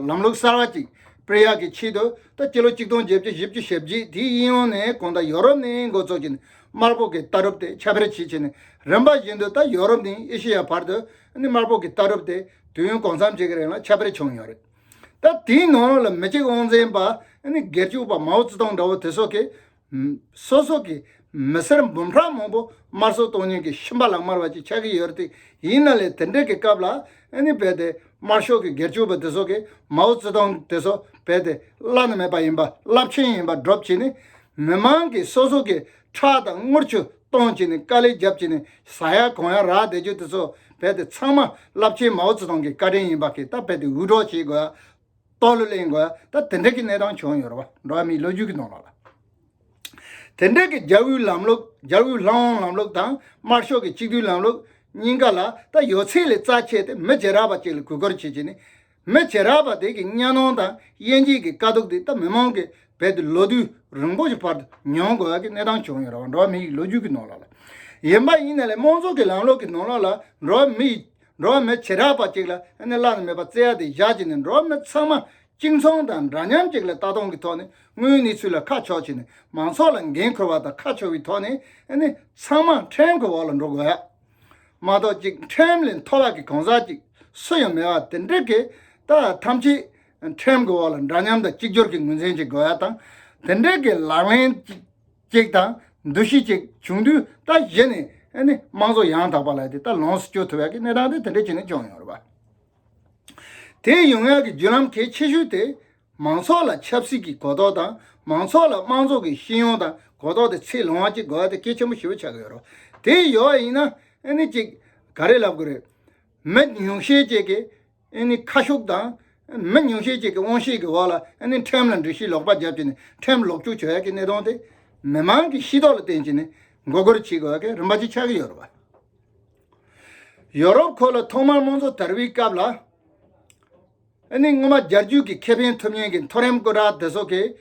ལམ་ལུགས་གསར་བ་ཅིག་སྤེལ་ཡག་གི་ཆེད་དུ་ད་སྤྱི་ལོ་གཅིག་སྟོང་བརྒྱད་བཅུ་བཞི་བཅུ་ཞེ་བརྒྱད་དེའི་དབྱིན་ཡོང་ནས་གོང་ད་ཡོ་རོབ་ནི་འགོ་གཙོ་གྱི་དམར་པོ་གི་ལྟ་གྲུབ་དེ་ཁྱབ་སྤེལ་བྱེད་ཆེད་ནི་རིམ་པ་བཞིན་དུ་ད་ཡོ་རོབ་ནི་ཨེ་ཤེ་ཡ་བར་དུ་ནི་དམར་པོ་གི་ལྟ་གྲུབ་དེ་དུས་ཡུན་གང་འཚམ་ཞིག་གི་རིང་ལ་ཁྱབ་སྤེལ་བྱུང་ཡོད་རེད། ད་དེའི་ནང་ལ་མི་གཅིག་དབང་འཛིན་པ་ནི་སྒེར་གཅོད་པ་མའོ་ཙེ་ཏུང་འདྲ་བོ་དེ་སོགས་ཀྱིས། སོ་སོ་གི་མི་སེར་འབུམ་ཕྲག་མང་པོ་དམར་གསོད་གཏོང་ཉེན་གྱི་ཤི་འཕར་ལ་དམར་བ་ཅིག་ཆགས་ཀྱི་ཡོད་རེད་དེ། ཡིན་ན་ལས་དེ་འདྲའི་གི་སྐབས་ལ་ནི་རྦད་དེ་དམར་ཤོག་གི་སྒེར་གཅོད་པ་དེ་སོགས་ཀྱིས་མའོ་ཙེ་ཏུང་དེ་སོགས་རྦད་དེ་བླ་ན་མེད་པ་ཡིན་པ་རླབས་ཆེན་ཡིན་པ་སྒྲོབ་བྱེད་ནི། མི་མང་གིས་སོ་སོ་གི་ཁྲག་དང་རྔུལ་ཆུ། གཏོང་བྱས་ནས་དཀའ་ལས་བརྒྱབ་བྱས་ནས་ཟ་ཡ་གོན་ཡ་རག་བསྡད་རྒྱུ་དེ་ཚོ་རྦད་དེ་ཚང་མ་རླབས་ཆེན་མའོ་ཙེ་ཏུང་གི་བཀའ་དྲིན་ཡིན་པ་ཁེ་ད་རྦད་དེ་འུད་སྒྲོག་བྱེད་དགོས་ཨ། རྟོག་གླུ་གླེང་དགོས་ཨ་ད་དེ་འདྲ་གི་གནས་སྟངས་བྱུང་ཡོད་རེད་བ་འགྲོ་བ་མིའི་ལོ་རྒྱུས་ཀྱི་ནང་ལ། དེ་འདྲ་གི་རྒྱ་དབུས་ལམ་ལུགས་རྒྱ་དབུས་ལྷ་འོང་ལམ་ལུགས་དང་དམར་ཤོག་གི་གཅིག་བསྡུས་ལམ་ལུགས་གཉིས་ཀ་ལ་ད་ཡོད་ཚད་ལས་རྩ་ཆེ་སྟེ་མི་རྗེས་རགས་པ་ཅིག་ལ་གུས་བཀུར་བྱེད་བྱས་ནས། མི་བྱེད་རགས་པ་དེ་གི་གཉའ་གནོན་དང་དབྱེ་འབྱེད་ཀྱི་དཀའ་སྡུག་དེ་ད་མི་མང་གི་བེད་དུ་ལོ་དུས་རིང་པོ་ཞིག་བར་དུ་མྱོང་དགོས་ཀྱི་གནས་སྟངས་བྱུང་ཡོད་རང་འགྲོ་བ་མི་ཡི་ལོ་རྒྱུས་ཀྱི་ནང་ལོགས་ལ། ཡིན་པ་ཡིན་ནའི་ལས་དམངས་ཚོགས་ཀྱི་ལམ་ལོགས་ཀྱི་ནང་ལོགས་ལ་འགྲོ་བ་མི་ཡི་འགྲོ་བ་མི་བྱེད་རགས་པ་ཅིག་ལ་ཨ་ནེ་བླ་ན་མེད་པ་བརྩེ་ཡ་དེ་བཞག་བྱས་ནས་འགྲོ་བ་མི་ཚང་མ་གཅིག་མཚུངས་དང་འདྲ་མཉམ་ཅིག་ལ་ལྟ་སྟངས་ཀྱི་ཐོག་ནས་དངུལ་ནི་ཚུལ་ལ་ཁ་ཕྱོགས་བྱས་ནས་མང་ཚོགས་ལ་འགན་ཁུར་བ་དང་ཁ་ཕྱོགས་ཀྱི་ཐོག་ནས་ཨ་ནེ་ཚང་མ་ཕྲན་གྱི་འོག་ལ་འགྲོ་དགོས། མ་གཏོགས་གཅིག་ཁྲིམས་ལས་མཐོ་བ་གི་གང་ཟག་ཅིག་སུ་ཡང་མེད་པ་དེ་འདྲའི་གི་ད་ཐམས་ཅད་ཁྲིམས་གི་འོག་ལ་འདྲ་མཉམ་དང་གཅིག་གྱུར་གི་ངོས་འཛིན་བྱེད་དགོས་པ་དང་དེ་འདྲའི་གི་ལག་ལེན་ཅིག་དང་འདུ་ཤེས་ཅིག་བྱུང་དུས་ད་གཞི་ནས་དམངས་གཙོ་ཡང་དག་པ་ལ་དེ་ད་ལོངས་སུ་སྤྱོད་ཐུབ་པའི་གི་གནས་སྟངས་དེ་དེ་འདྲའི་ཆེ་ནས་བྱུང་ཡོང་རོགས་པ། དེའི་ཡུལ་དངོས་ཀྱི་བརྒྱུད་ལམ་གལ་ཆེ་ཤོས་དེ། མང་ཚོགས་ལ་ཆབ་སྲིད་ཀྱི་གོ་རྟོགས་དང་མང་ཚོགས་ལ་དམངས་ཚོགས་ཀྱི་ཤེས་ཡོན་དང་གོ་རྟོགས་དེ་ཚད་ལོངས་ཀྱི་དགོས་པ་དེ་གལ་ཆེན་པོ་ཞིག་ལ་ཆགས་ཀྱི་ཡོད་རོ། དེ་ཡོད་པ་ཡིན་ན་ཨེ་ནི་ཅིག་ག་རེ་ལབ་དགོས་རེད། མི་ཉུང་ཤས་ཅིག་གིས་ཨེ་ནི་ཁ་ཤུགས་དང། མི་ཉུང་ཤས་ཅིག་གིས་དབང་ཤེད་ཀྱི་འོག་ལ་ཨེ་ནི་ཁྲིམས་ལ་འདྲི་ཤེས་ལོག་པ་རྒྱབ་ཀྱི་ནི་ཁྲིམས་ལོག་སྤྱོད་བྱེད་ཡག་གི་གནས་སྟངས་དེ་མི་མང་གི་ཤེས་རྟོགས་ལ་བརྟེན་ཅིག་ནི་མགོ་སྒུར་བྱེད་དགོས་ཀྱི་རིམ་པ་ཅིག་ཆགས་ཀྱི་ཡོད་རོ། ཡོ་རོབ་ཁོ་ལ་ཐོག་མར་དམངས་གཙོ་དར་བའི་སྐབས་ལ། ཨ་ནི་སྔོན་མ་རྒྱལ་རྒྱུད་ཀྱི་ཁེ་ཕན་ཐུབ་མཉན་གྱི་མཐོ་རིམ་སྐུ་དྲག་དེ་ཚོ་གིས་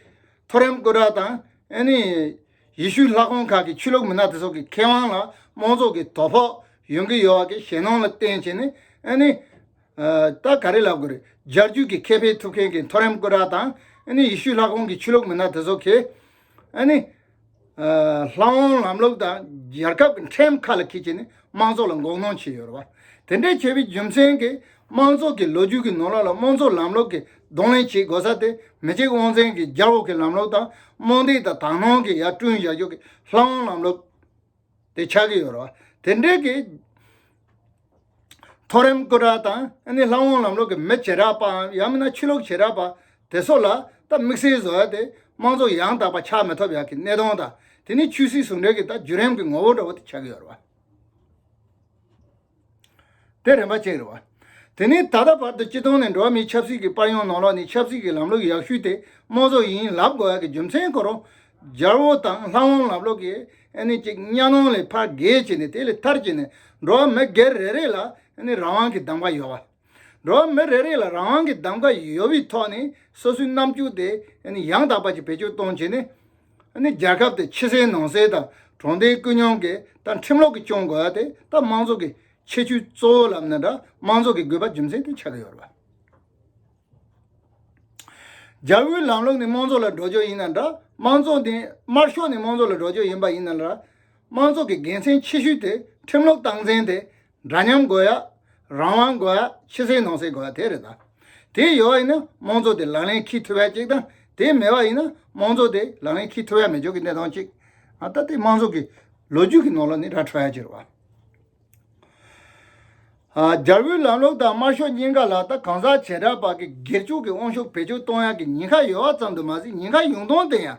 མཐོ་རིམ་སྐུ་དྲག་དང་ཨ་ནི་ཡི་ཤུའི་ལྷ་ཁང་ཁག་གི་ཆོས་ལུགས་མི་སྣ་དེ་ཚོ་གི་ཁེ་དབང་ལ་དམངས་ཚོགས་ཀྱི་དོ་ཕོག་ཡོང་གི་ཡོད་བ་གི་ཞེ་སྣང་ལ་བརྟེན་བྱས་ནས་ཨ་ནི། ད་ག་རེ་ལབ་དགོས་རེད་རྒྱལ་རྒྱུད་ཀྱི་ཁེ་ཕན་ཐུབ་མཁན་གྱི་མཐོ་རིམ་སྐུ་དྲག་དང་ཨ་ནི་ཡི་ཤུའི་ལྷ་ཁང་གི་ཆོས་ལུགས་མི་སྣ་དེ་ཚོ་གིས། ཨ་ནི། ལྷག་དབང་ལམ་ལུགས་དང་རྒྱལ་ཁབ་ཀྱི་ཁྲིམས་ཁ་ལ་འཁེལ་ཆེད་ནས་དམངས་ཚོགས་ལ་འགོག་སྣང་བྱས་ཡོད་རེད་བ། དེ་འདྲའི་བྱས་པའི་རྒྱུ་མཚན་གྱིས་དམངས་ཚོགས་ཀྱི་ལོ་རྒྱུས་ཀྱི་ནོར་ལག་ལ་དམངས་གཙོ་ལམ་ལུགས་ཀྱི་གདོང་ལེན་བྱེད་དགོས་ས་དེ་མི་གཅིག་དབང་འཛིན་གྱི་རྒྱ་འོག་གི་ལམ་ལུགས་དང་རྨོངས་དད་དང་དག་སྣང་གིས་ཡར་བསྐྲུན་བཞག་རྒྱུ་གྱི་ལྷག་དབང་ལམ་ལུགས་དེ་ཆགས་ཀྱི་ཡོད་རེད་བ། དེ་འབྲེལ་གྱི་མཐོ་རིམ་སྐུ་དྲག་དང་ལྷ་འོང་ལམ་ལོག་གི་མི་བྱེ་བྲག་པའམ་ཡང་མིན་ན་ཕྱི་ལོག་བྱེ་བྲག་པ་དེ་སོགས་ལ་ད་དམིགས་བསལ་བཟོ་ཡ་དེ་དམངས་གཙོ་ཡང་དག་པ་ཆགས་མི་ཐུབ་ཡག་གི་གནས་སྟངས་དང་དེ་ནི་ཆོས་སྲིད་ཟུང་འབྲེལ་གྱི་ད་བརྒྱུད་རིམ་གྱི་ངོ་བོ་འདྲ་བོ་དེ་ཆགས་ཀྱི་ཡོད་རེད་བ། དེ་རིམ་པ་གཅིག་རེད་བ། དེ་ནས་ད་ལྟ་བར་དུ་སྤྱི་སྟོང་ནས་འགྲོ་བ་མིའི་ཆབ་སྲིད་ཀྱི་པར་ཡོང་ནང་ལོགས་ནས་ཆབ་སྲིད་ཀྱི་ལམ་ལུགས་ཡག་ཤོས་དེ་དམངས་གཙོ་ཡིན་ལབ་དགོས་ཡ་གི་རྒྱུ་མཚན་ཁོ་རང་རྒྱལ་བོ་དང་ལྷ་དབང་ལབ་ལོག་གི་ཨ་ནི་གཅིག་གཉའ་གནོང་ལས་ཕར་བརྒལ་བྱས་ནས་དེ་ལས་ཐར་བྱས་ནས་འགྲོ་བ་མི་སྒེར་རེ་རེ་ལ་ཨ་ནི་རང་དབང་གི་གདམ་ག་ཡོད་བ། འགྲོ་བ་མི་རེ་རེ་ལ་རང་རང་གི་གདམ་ག་ཡོད་པའི་ཐོག་ནས་སོ་སོའི་རྣམ་འགྱུར་དེ་ཡང་དག་པ་ཅིག་བེད་སྤྱོད་གཏོང་བྱས་ནས། རྒྱལ་ཁབ་དེ་ཕྱི་གསལ་ནང་གསལ་དང་གྲོང་སྡེའི་སྐུལ་སྙོང་གི་དང་ཁྲིམས་ལོག་གི་སྐྱོང་དགོས་པ་དེ་ད་དམངས་ཚོགས་ཀྱི་ཁྱད་ཆོས་གཙོ་བོ་ལབ་ན་འདྲ་དམངས་ཚོགས་ཀྱི་དགོས་པ་རྒྱུ་མཚན་དེ་ཆགས་ཀྱི་ཡོད་རེད། རྒྱལ་པོའི་ལམ་ལུགས་ནི་དམངས་ཚོགས་ལ་འགྲོ་ཕྱོགས་ཡིན་ན་འདྲ་དམངས་ཚོགས་ནི་དམར་ཤོག་ནི་དམངས་ཚོགས་ལ་འགྲོ་ཕྱོགས་ཡིན་པ་ཡིན་ན་འདྲ་དམངས་ཚོགས་ཀྱི་དགེ་མཚན་ཆེ་ཤོས་དེ་ཁྲིམས་ལོག་སྟངས་འཛིན་དེ་འདྲ་མཉམ་དགོས་ཡ། རང་དབང་དགོས་ཡ་ཕྱི་སེལ་ནང་སེལ་དགོས་ཡ་དེ་རེད་ད། དེ་ཡོད་ཡིན་ན་དམངས་གཙོ་དེ་ལག་ལེན་ཁིག་ཐུབ་ཡ་གཅིག་དང་དེ་མེད་པ་ཡིན་ན་དམངས་གཙོ་དེ་ལག་ལེན་ཁིག་ཐུབ་ཡ་མི་ཆོག་གི་གནད་དོན་གཅིག་ད་ལྟ་དམངས་གཙོ་གི་ལོ་རྒྱུས་ཀྱི་ནང་ལ་ནི་ར་འཕྲོད་ཡ་གཅིག་རེད་བ། རྒྱལ་པོའི་ལམ་ལུགས་དང་དམར་ཤོག་གཉིས་ཀ་ལ་ད་གང་ཟག་བྱེ་བྲག་བར་གྱི་སྒེར་གཅོག་གི་དབང་ཤུགས་བེད་སྤྱོད་གཏོང་ཡ་གི་ཉེན་ཁ་ཡོད་བ་ཙམ་དུ་མ་ཟད་ཉེན་ཁ་ཡོང་སྟངས་དེ་ཡང་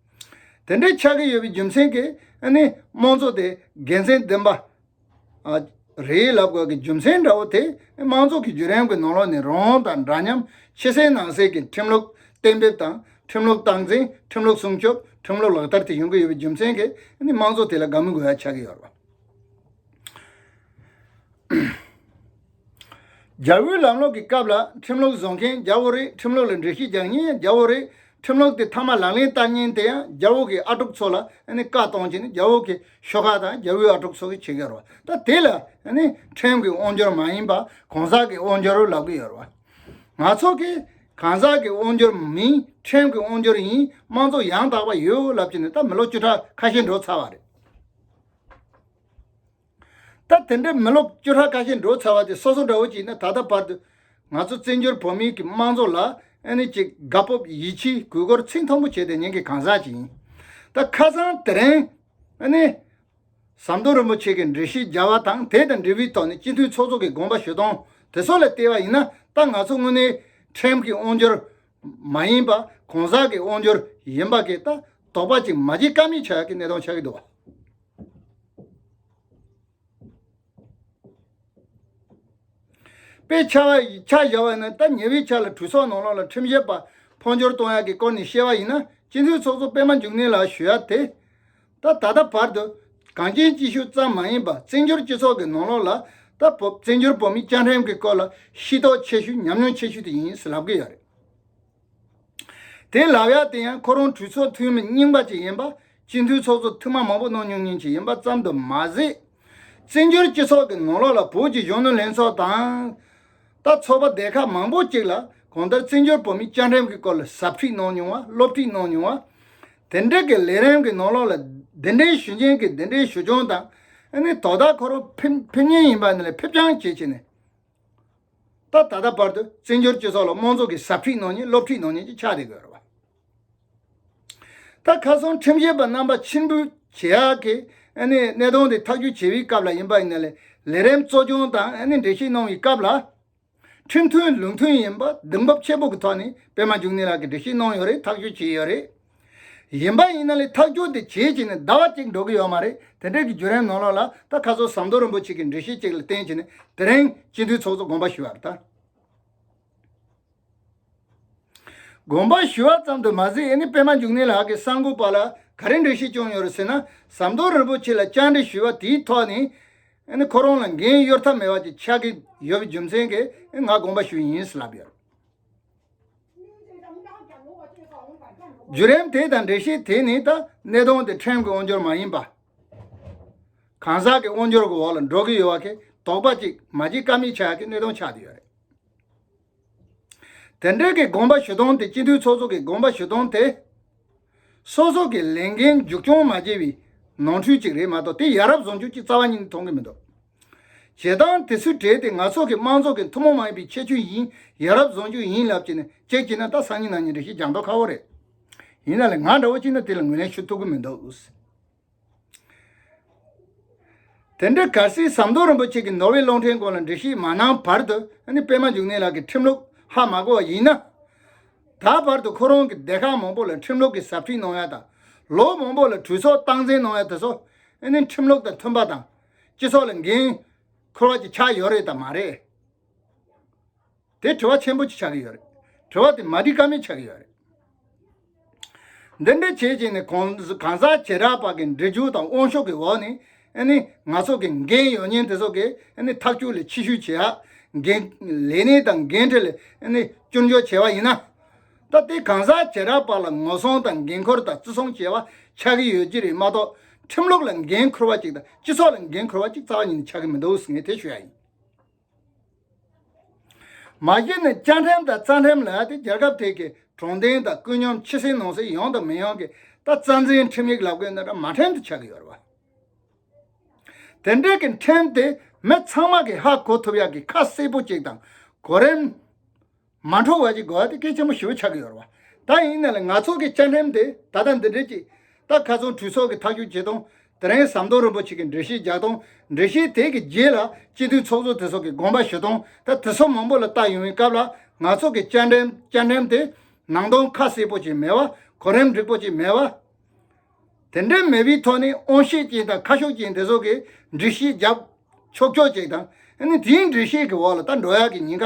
དེ་འདྲའི་ཆགས་ཀྱི་ཡོད་པའི་རྒྱུ་མཚན་གྱིས་ནི་དམངས་གཙོ་དེ་དགེ་མཚན་ལྡན་པ་རེད་ལབ་དགོས་ཀྱི་རྒྱུ་མཚན་འདྲ་བོ་དེ་དམངས་གཙོ་གི་བརྒྱུད་རིམ་གྱི་ནང་ལོགས་ནས་རང་དབང་དང་འདྲ་མཉམ་ཕྱི་གསལ་ནང་གསལ་གྱི་ཁྲིམས་ལུགས་གཏན་འབེབས་དང་ཁྲིམས་ལུགས་སྟངས་འཛིན་ཁྲིམས་ལུགས་སྲུང་སྐྱོབ་ཁྲིམས་ལུགས་ལག་བསྟར་དེ་ཡོང་གི་ཡོད་པའི་རྒྱུ་མཚན་གྱིས་ནི་དམངས་གཙོ་དེ་ལ་དགའ་མི་དགོས་ཡ་ཆགས་ཀྱི་ཡོད་རེད། རྒྱ་བོད་ལམ་ལོག་གི་སྐབས་ལ་ཁྲིམས་ལོག་བཟོ་མཁན་རྒྱ་བོ་རེད་ཁྲིམས་ལོག་ལ་འགྲེལ་བཤད་རྒྱག་ཉེན་ཡང་རྒྱ་བོ་རེད་ཁྲིམས་ལོག་དེ་ཐ་མ་ལག་ལེན་བསྟར་ཉེན་དེ་ཡང་རྒྱ་བོ་གི་ཨ་གྲོགས་ཚོ་ལ་བཀའ་གཏོང་བྱེད་ནི་རྒྱ་བོ་གི་ཤོག་ཁག་དང་རྒྱ་བོའི་ཨ་གྲོགས་ཚོ་གི་བྱེད་ཀྱི་ཡོད་རེད་ད་དེ་ལ་ཁྲིམས་གི་དབང་འབྱོར་མ་ཡིན་པ་གང་ཟག་གི་དབང་འབྱོར་ལབ་ཀྱི་ཡོད་རེད་ང་ཚོ་གི་གང་ཟག་གི་དབང་འབྱོར་མིན་ཁྲིམས་གི་དབང་འབྱོར་ཡིན་དམངས་གཙོ་ཡང་དག་པ་ཡོད་ལབ་ཀྱི་ནི་ད་མི་ལོ་བཅུ་ཕྲག་ཁ་ཤས་འགྲོ་ཚར་བ་རེད། ད་དེ་འདྲའི་མི་ལོ་བཅུ་ཕྲག་ཁ་ཤས་འགྲོ་ཚར་བ་དེ་སོ་སོ་འདྲ་བོ་ཅིག་ནས་ད་ལྟ་བར་དུ་ང་ཚོ་བཙན་བྱོལ་བོད་མིའི་གི་དམངས་ཚོགས་ལ་ཨེ་ནི་ཅིག་དགའ་སྤོབས་ཡིད་ཆེའི་གུས་བཀུར་ཚིག་མཐོན་པོ་བྱས་ཏེ་ཉན་གི་གང་ཟག་ཅིག་ཡིན། ད་ཁ་སང་དེ་རིང་ཨེ་ནི། ཟམ་གདོང་རིན་པོ་ཆེ་གིས་འགྲེལ་བཤད་བརྒྱ་བ་དང་དེ་དང་འབྲེལ་བའི་ཐོག་ནས་སྤྱི་འཐུས་ཚོགས་གཙོ་གི་དགོངས་པ་ཞུ་སྟངས་དེ་ཚོ་ལ་བལྟས་པ་ཡིན་ན་ད་ང་ཚོ་དངོས་གནས་ཁྲིམས་ཀྱི་དབང་སྒྱུར་མ་ཡིན་པ་གང་ཟག་གི་དབང་སྒྱུར་ཡིན་པ་གིས་ད་དོགས་པ་ཅིག་མ་བྱེད་ཀ་མེད་ཆགས་ཀྱི་གནས་སྟངས་ཆགས་ཀྱི་འདུག་བ། དཔེ་ཆ་བཞག་པ་ཡིན་ན་ད་ཉེ་བའི་ཆ་ལ་གྲོས་ཚོགས་ནང་ལོགས་ལ་ཁྲིམས་བཞེས་པ་འཕོ་འགྱུར་གཏོང་ཡག་གི་སྐོར་ནས་བཤད་པ་ཡིན་ན་སྤྱི་འཐུས་ཚོགས་གཙོ་པད་མ་འབྱུང་གནས་ལགས་ཞུ་ཡག་དེ། ད་ད་ལྟ་བར་དུ་གངས་ཅན་སྐྱིད་ཤོད་ཙམ་མ་ཡིན་པ་བཙན་བྱོལ་སྤྱི་ཚོགས་ཀྱི་ནང་ལོགས་ལ་ད་བཙན་བྱོལ་བོད་མི་སྐྱ་འགྲེམས་ཀྱི་སྐོར་ལ་ཤེས་རྟོགས་ཆེ་ཤོས་ཉམས་མྱོང་ཆེ་ཤོས་དེ་ཡིན་ཟེར་ལབ་ཀྱི་ཡོད་རེད། དེ་ལ་ཡ་དེ་ཡང་ཁོ་རང་གྲོས་ཚོགས་འཐུས་མི་རྙིང་པ་ཅིག་ཡིན་པ། སྤྱི་འཐུས་ཚོགས་གཙོ་འཐུས་མ་མང་པོ་གནང་མྱོང་མྱོང་ཅིག་ཡིན་པ་ཙམ་དུ་མ་ཟད། བཙན་བྱོལ་སྤྱི་ཚོགས་ཀྱི་ནང་ལོགས་ལ་བོད་ཀྱི་གཞོན་ནུ་ལྷན་ཚོགས་དང། ད་ཚོགས་པ་སྡེ་ཁག་མང་པོ་ཅིག་ལ་གང་ལྟར་བཙན་བྱོལ་བོད་མིའི་བཅའ་ཁྲིམས་ཀྱི་སྐོར་ལ་ཟབ་ཁྲིད་གནང་མྱོང་བ་སློབ་ཁྲིད་གནང་མྱོང་བ། དེ་འབྲེལ་གྱི་ལས་རིམ་གྱི་ནང་ལོགས་ལ་དེ་འབྲེལ་ཞུ་མཁན་གྱི་དེ་འབྲེལ་ཞུ་སྦྱོང་དང། དོ་བདག་ཁོ་རང་ཕེབས་ངེས་ཡིན་པ་ནི་ལ་ཕེབས་རྐྱང་བྱེད་ཆེད་ནས། ད་ད་ལྟ་བར་དུ་བཙན་བྱོལ་སྤྱི་ཚོགས་ལ་དམངས་ཚོགས་ཀྱི་ཟབ་ཁྲིད་གནང་ཉིན་སློབ་ཁྲིད་གནང་ཉིན་གྱི་ཆ་དེ་དགོས་རོགས། ད་ཁ་སང་ཁྲིམས་ཞིབ་པ་རྣམ་པ་ཕྱིར་འབུད་བྱེད་ཡག་གི་གནས་སྟངས་དེ་ཐག་གཅོད་བྱེད་པའི་སྐབས་ལ་ཡིན་པ་ཡིན་ན་ལས་རིམ་གཙོ་སྐྱོང་དང་འགྲེལ་བཤད་གནང་བའི་སྐབས་ལ། ཁྲིམས་མཐུན་ལུགས་མཐུན་ཡིན་པ་གདེང་འབབ་ཆེན་པོ་གི་ཐོག་ནས་པད་མ་འབྱུང་གནས་ལགས་ཀྱིས་འགྲེལ་བཤད་གནང་ཡོད་རེད་ཐག་གཅོད་བྱས་ཡོད་རེད། ཡིན་པ་ཡིན་ན་ལས་ཐག་གཅོད་དེ་བྱས་བྱས་ནས་ཟླ་བ་གཅིག་འགྲོ་གི་ཡོད་མ་རེད་དེ་འདྲའི་གི་བརྒྱུད་རན་ནོར་ལོག་ལ་ད་ཁ་སོ་ཟམ་མདོ་རིན་པོ་ཆེ་གི་འདྲི་གཞི་གཅིག་ལ་བརྟེན་བྱས་ནས་དེ་རིང་སྤྱི་འཐུས་ཚོགས་གཙོ་དགོངས་པ་ཞུ་བར་ད། དགོངས་པ་ཞུ་བ་ཙམ་དུ་མ་ཟད་ཨེ་ནི་པད་མ་འཇུག་གནས་ལགས་ཀྱི་གསར་འགོད་པ་ལ་ག་རེ་འདྲི་གཞི་བྱུང་ཡོད་རེད་ཟེར་ན་ཟམ་མདོ་རིན་པོ་ཆེ་ལ་བཅར་འདྲི་ཞུས་པ་དེའི་ཐོག་ནས་ཨེ་ནི་ཁོ་རང་ལ་འགན་གཡོལ་ཐབས་མེད་པ་ཅིག་ཆགས་ཀྱི་ཡོད་པའི་རྒྱུ་མཚན་གྱིས་ཨེ་ང་དགོངས་པ་ཞུ་ཡིན་ཟེར་ལབ་ཡོད་རེད། བརྒྱུད་རིམ་དེ་དང་འགྲེལ་བཤད་དེ་ནི་ད་གནས་སྟོང་སྟེ་ཕྲན་གྱི་དབང་འབྱོར་མ་ཡིན་པ། གང་ཟག་གི་དབང་འབྱོར་གྱི་འོག་ལ་འགྲོ་གི་ཡོད་བ་ཁེ་དོགས་པ་ཅིག་མ་བགྱིད་ཀ་མི་ཆག་གི་གནས་སྟོང་ཆགས་ཀྱི་ཡོད་རེད། དེ་འབྲེལ་གྱི་དགོངས་པ་ཞུ་སྟོང་དེ་སྤྱི་འཐུས་ཚོགས་གཙོ་གི་དགོངས་པ་ཞུ་སྟོང་དེ། སོ་སོ་གི་ལས་འགན་མཇུག་སྐྱོང་མ་བགྱིད་བའི་ནོར་འཁྲུལ་ཅིག་རེད་མ་གཏོགས་དེ་ཡ་རབས་བཟོ་འཇུག་ཅིག་རྩ་བ་ཉིད་ནས་མཐོང་གི་མི་འདུག། བྱེད་སྟངས་དེ་ཚོའི་གྲས་དེ་ང་ཚོ་གི་དམངས་ཚོགས་ཀྱི་ཐུན་མོང་མ་ཡིན་པའི་ཁྱད་ཆོས་ཡིན་ཡ་རབས་བཟང་རྒྱུ་ཡིན་ལབ་ཀྱི་ནི་ཁྱེད་ཀྱིས་ན་ད་སང་ཉིན་ནང་ཉིན་རེ་ཞིག་ལྗང་མདོག་ཁ་བོ་རེད། ཡིན་ན་ལེ་ང་འདྲ་བོ་གཅིག་ནི་དེ་ལ་ངོས་ལེན་ཞུ་ཐུབ་གི་མི་འདུག། དེ་འདྲའི་གལ་སྲིད་ཟམ་གདོང་རིན་པོ་ཆེ་གི་ནོར་ཝེ་གློག་འཕྲིན་སྐོར་ལ་འབྲི་གཞི་མ་གནང་བར་དུ་ནི་པད་མ་འཇུག་གནས་ལགས་ཀྱི་ཁྲིམས་ལུགས་ཧ་མ་གོ་བ་ཡིན་ན། ད་བར་དུ་ཁོ་རང་གི་སྡེ་ཁག་མང་པོ་ལ་ཁྲིམས་ལུགས་ཀྱི་ཟབ་ཁྲིད་གནང་ཡ་དང། ལོ་མང་པོ་ལ་གྲོས་ཚོགས་སྟངས་འཛིན་གནང་ཡ་དེ་ཚོ་ནི་ཁྲིམས་ལུགས་དང་མཐུན་པ་དང། སྤྱི་ཚོགས་ལ་འགན་འཁུར་བ་ཅིག་ཆགས་ཡོད་རེད་དམ་མ་རེད། དེ་དྲི་བ་ཆེན་པོ་ཅིག་ཆགས་ཀྱི་ཡོད་རེད། དྲི་བ་དེ་མ་འདྲི་ཀ་མེད་ཆགས་ཀྱི་ཡོད་རེད། འདི་འདྲའི་བྱས་རྗེས་ནི་གང་ཟག་བྱེ་བྲག་པ་གི་འདྲི་རྒྱུ་དང་དབང་ཤོག་གི་འོག་ནས་ནིང་ཚོགས་ཀྱི་འགན་ཡོད་ཉེན་དེ་ཚོ་གི་ཐག་གཅོད་ལས་ཕྱི་བཤོལ་བྱེད་ཡག། ལས་གནས་དང་འགན་འཁྲི་ལས་སྐྱོན་བརྗོད་བྱས་པ་ཡིན་ན། སྟབས་བདེའི་གང་ཟག་བྱེ་བྲག་པ་ལ་ངོ་སྲུང་དང་འགན་འཁུར་དང་བརྩི་སྲུང་བྱེད་པ་ཆགས་ཀྱི་ཡོད་ཀྱི་རེད་མ་གཏོགས་ཁྲིམས་ལུགས་ལ་འགན་འཁུར་བ་གཅིག་དང་སྤྱི་ཚོགས་ལ་འགན་འཁུར་བ་གཅིག་རྩ་བ་ཉིད་ནས་ཆགས་ཀྱི་མི་འདུག་ངས་དེ་ཤོད་ཡ་ཡིན། མ་གཞི་ནས་བཅའ་ཁྲིམས་དང་རྩ་ཁྲིམས་ལ་དེ་རྒྱལ་ཁབ་ཐད་ཀྱི་གྲོང་སྡེ་དང་ཀུན་སྙོམས་ཕྱི་སྲིད་ནང་སྲིད་ཡོང་དང་མི་ཡོང་གི་ད་རྩ་འཛིན་ཁྲིམས་ཡིག་ལབ་དགོས་འདི་འདྲ་མ་ཁྲིམས་དེ་ཆགས་ཀྱི་ཡོད་རེད་བ། དེ་འདྲའི་གི་ཁྲིམས་དེ་མི་ཚང་མ་གིས་ཧ་གོ་ཐུབ་ཡ་གི་ཁ་གསལ་པོ་གཅིག་དང་གོ་རིམ། མ་འཕྲོག་བ་ཞིག་དགོས་བ་དེ་སྐད་ཆེན་པོ་ཞུ་ཆགས་ཡོད་རེད་བ། ད་ཡིན་ན་ལ་ང་ཚོ་གི་བཅའ་ཁྲིམས་དེ་ད་ལྟ་འདི་འདྲས་ཀྱིས་ད་ཁ་ཚོན་འཁྲུད་སོགས་ཀྱི་ཐག་གཅོད་བྱེད་སྟངས་དེ་རིང་ཟམ་གདོང་རིན་པོ་ཆེ་གི་འགྲེལ་བཤད་རྒྱག་སྟངས་འགྲེལ་བཤད་དེ་གི་རྗེས་ལ་སྤྱི་མཐུན་ཚོགས་གཙོ་དེ་སོགས་ཀྱི་དགོངས་པ་ཞུ་སྟངས་ད་དེ་སོགས་མང་པོ་ལ་བལྟ་ཡོང་བའི་སྐབས་ལ་ང་ཚོ་གི་བཅའ་ཁྲིམས་དེ་ནང་དོན་ཁ་གསལ་པོ་ཅིག་མེད་བ་གོ་རིམ་འགྲིག་པོ་ཅིག་མེད་བ། དེ་འདྲས་མེད་པའི་ཐོག་ནས་དབང་ཤེད་ཅན་དང་ཁ་ཤོག་ཅན་དེ་སོགས་ཀྱི་འགྲེལ་བཤད་རྒྱབ་ཆོག་ཆོག་ཅིག་དང་དེའི་འགྲེལ་བཤད་གི་འོག་ལ་ད་འགྲོ་ཡག་གི་ཉིན་ག་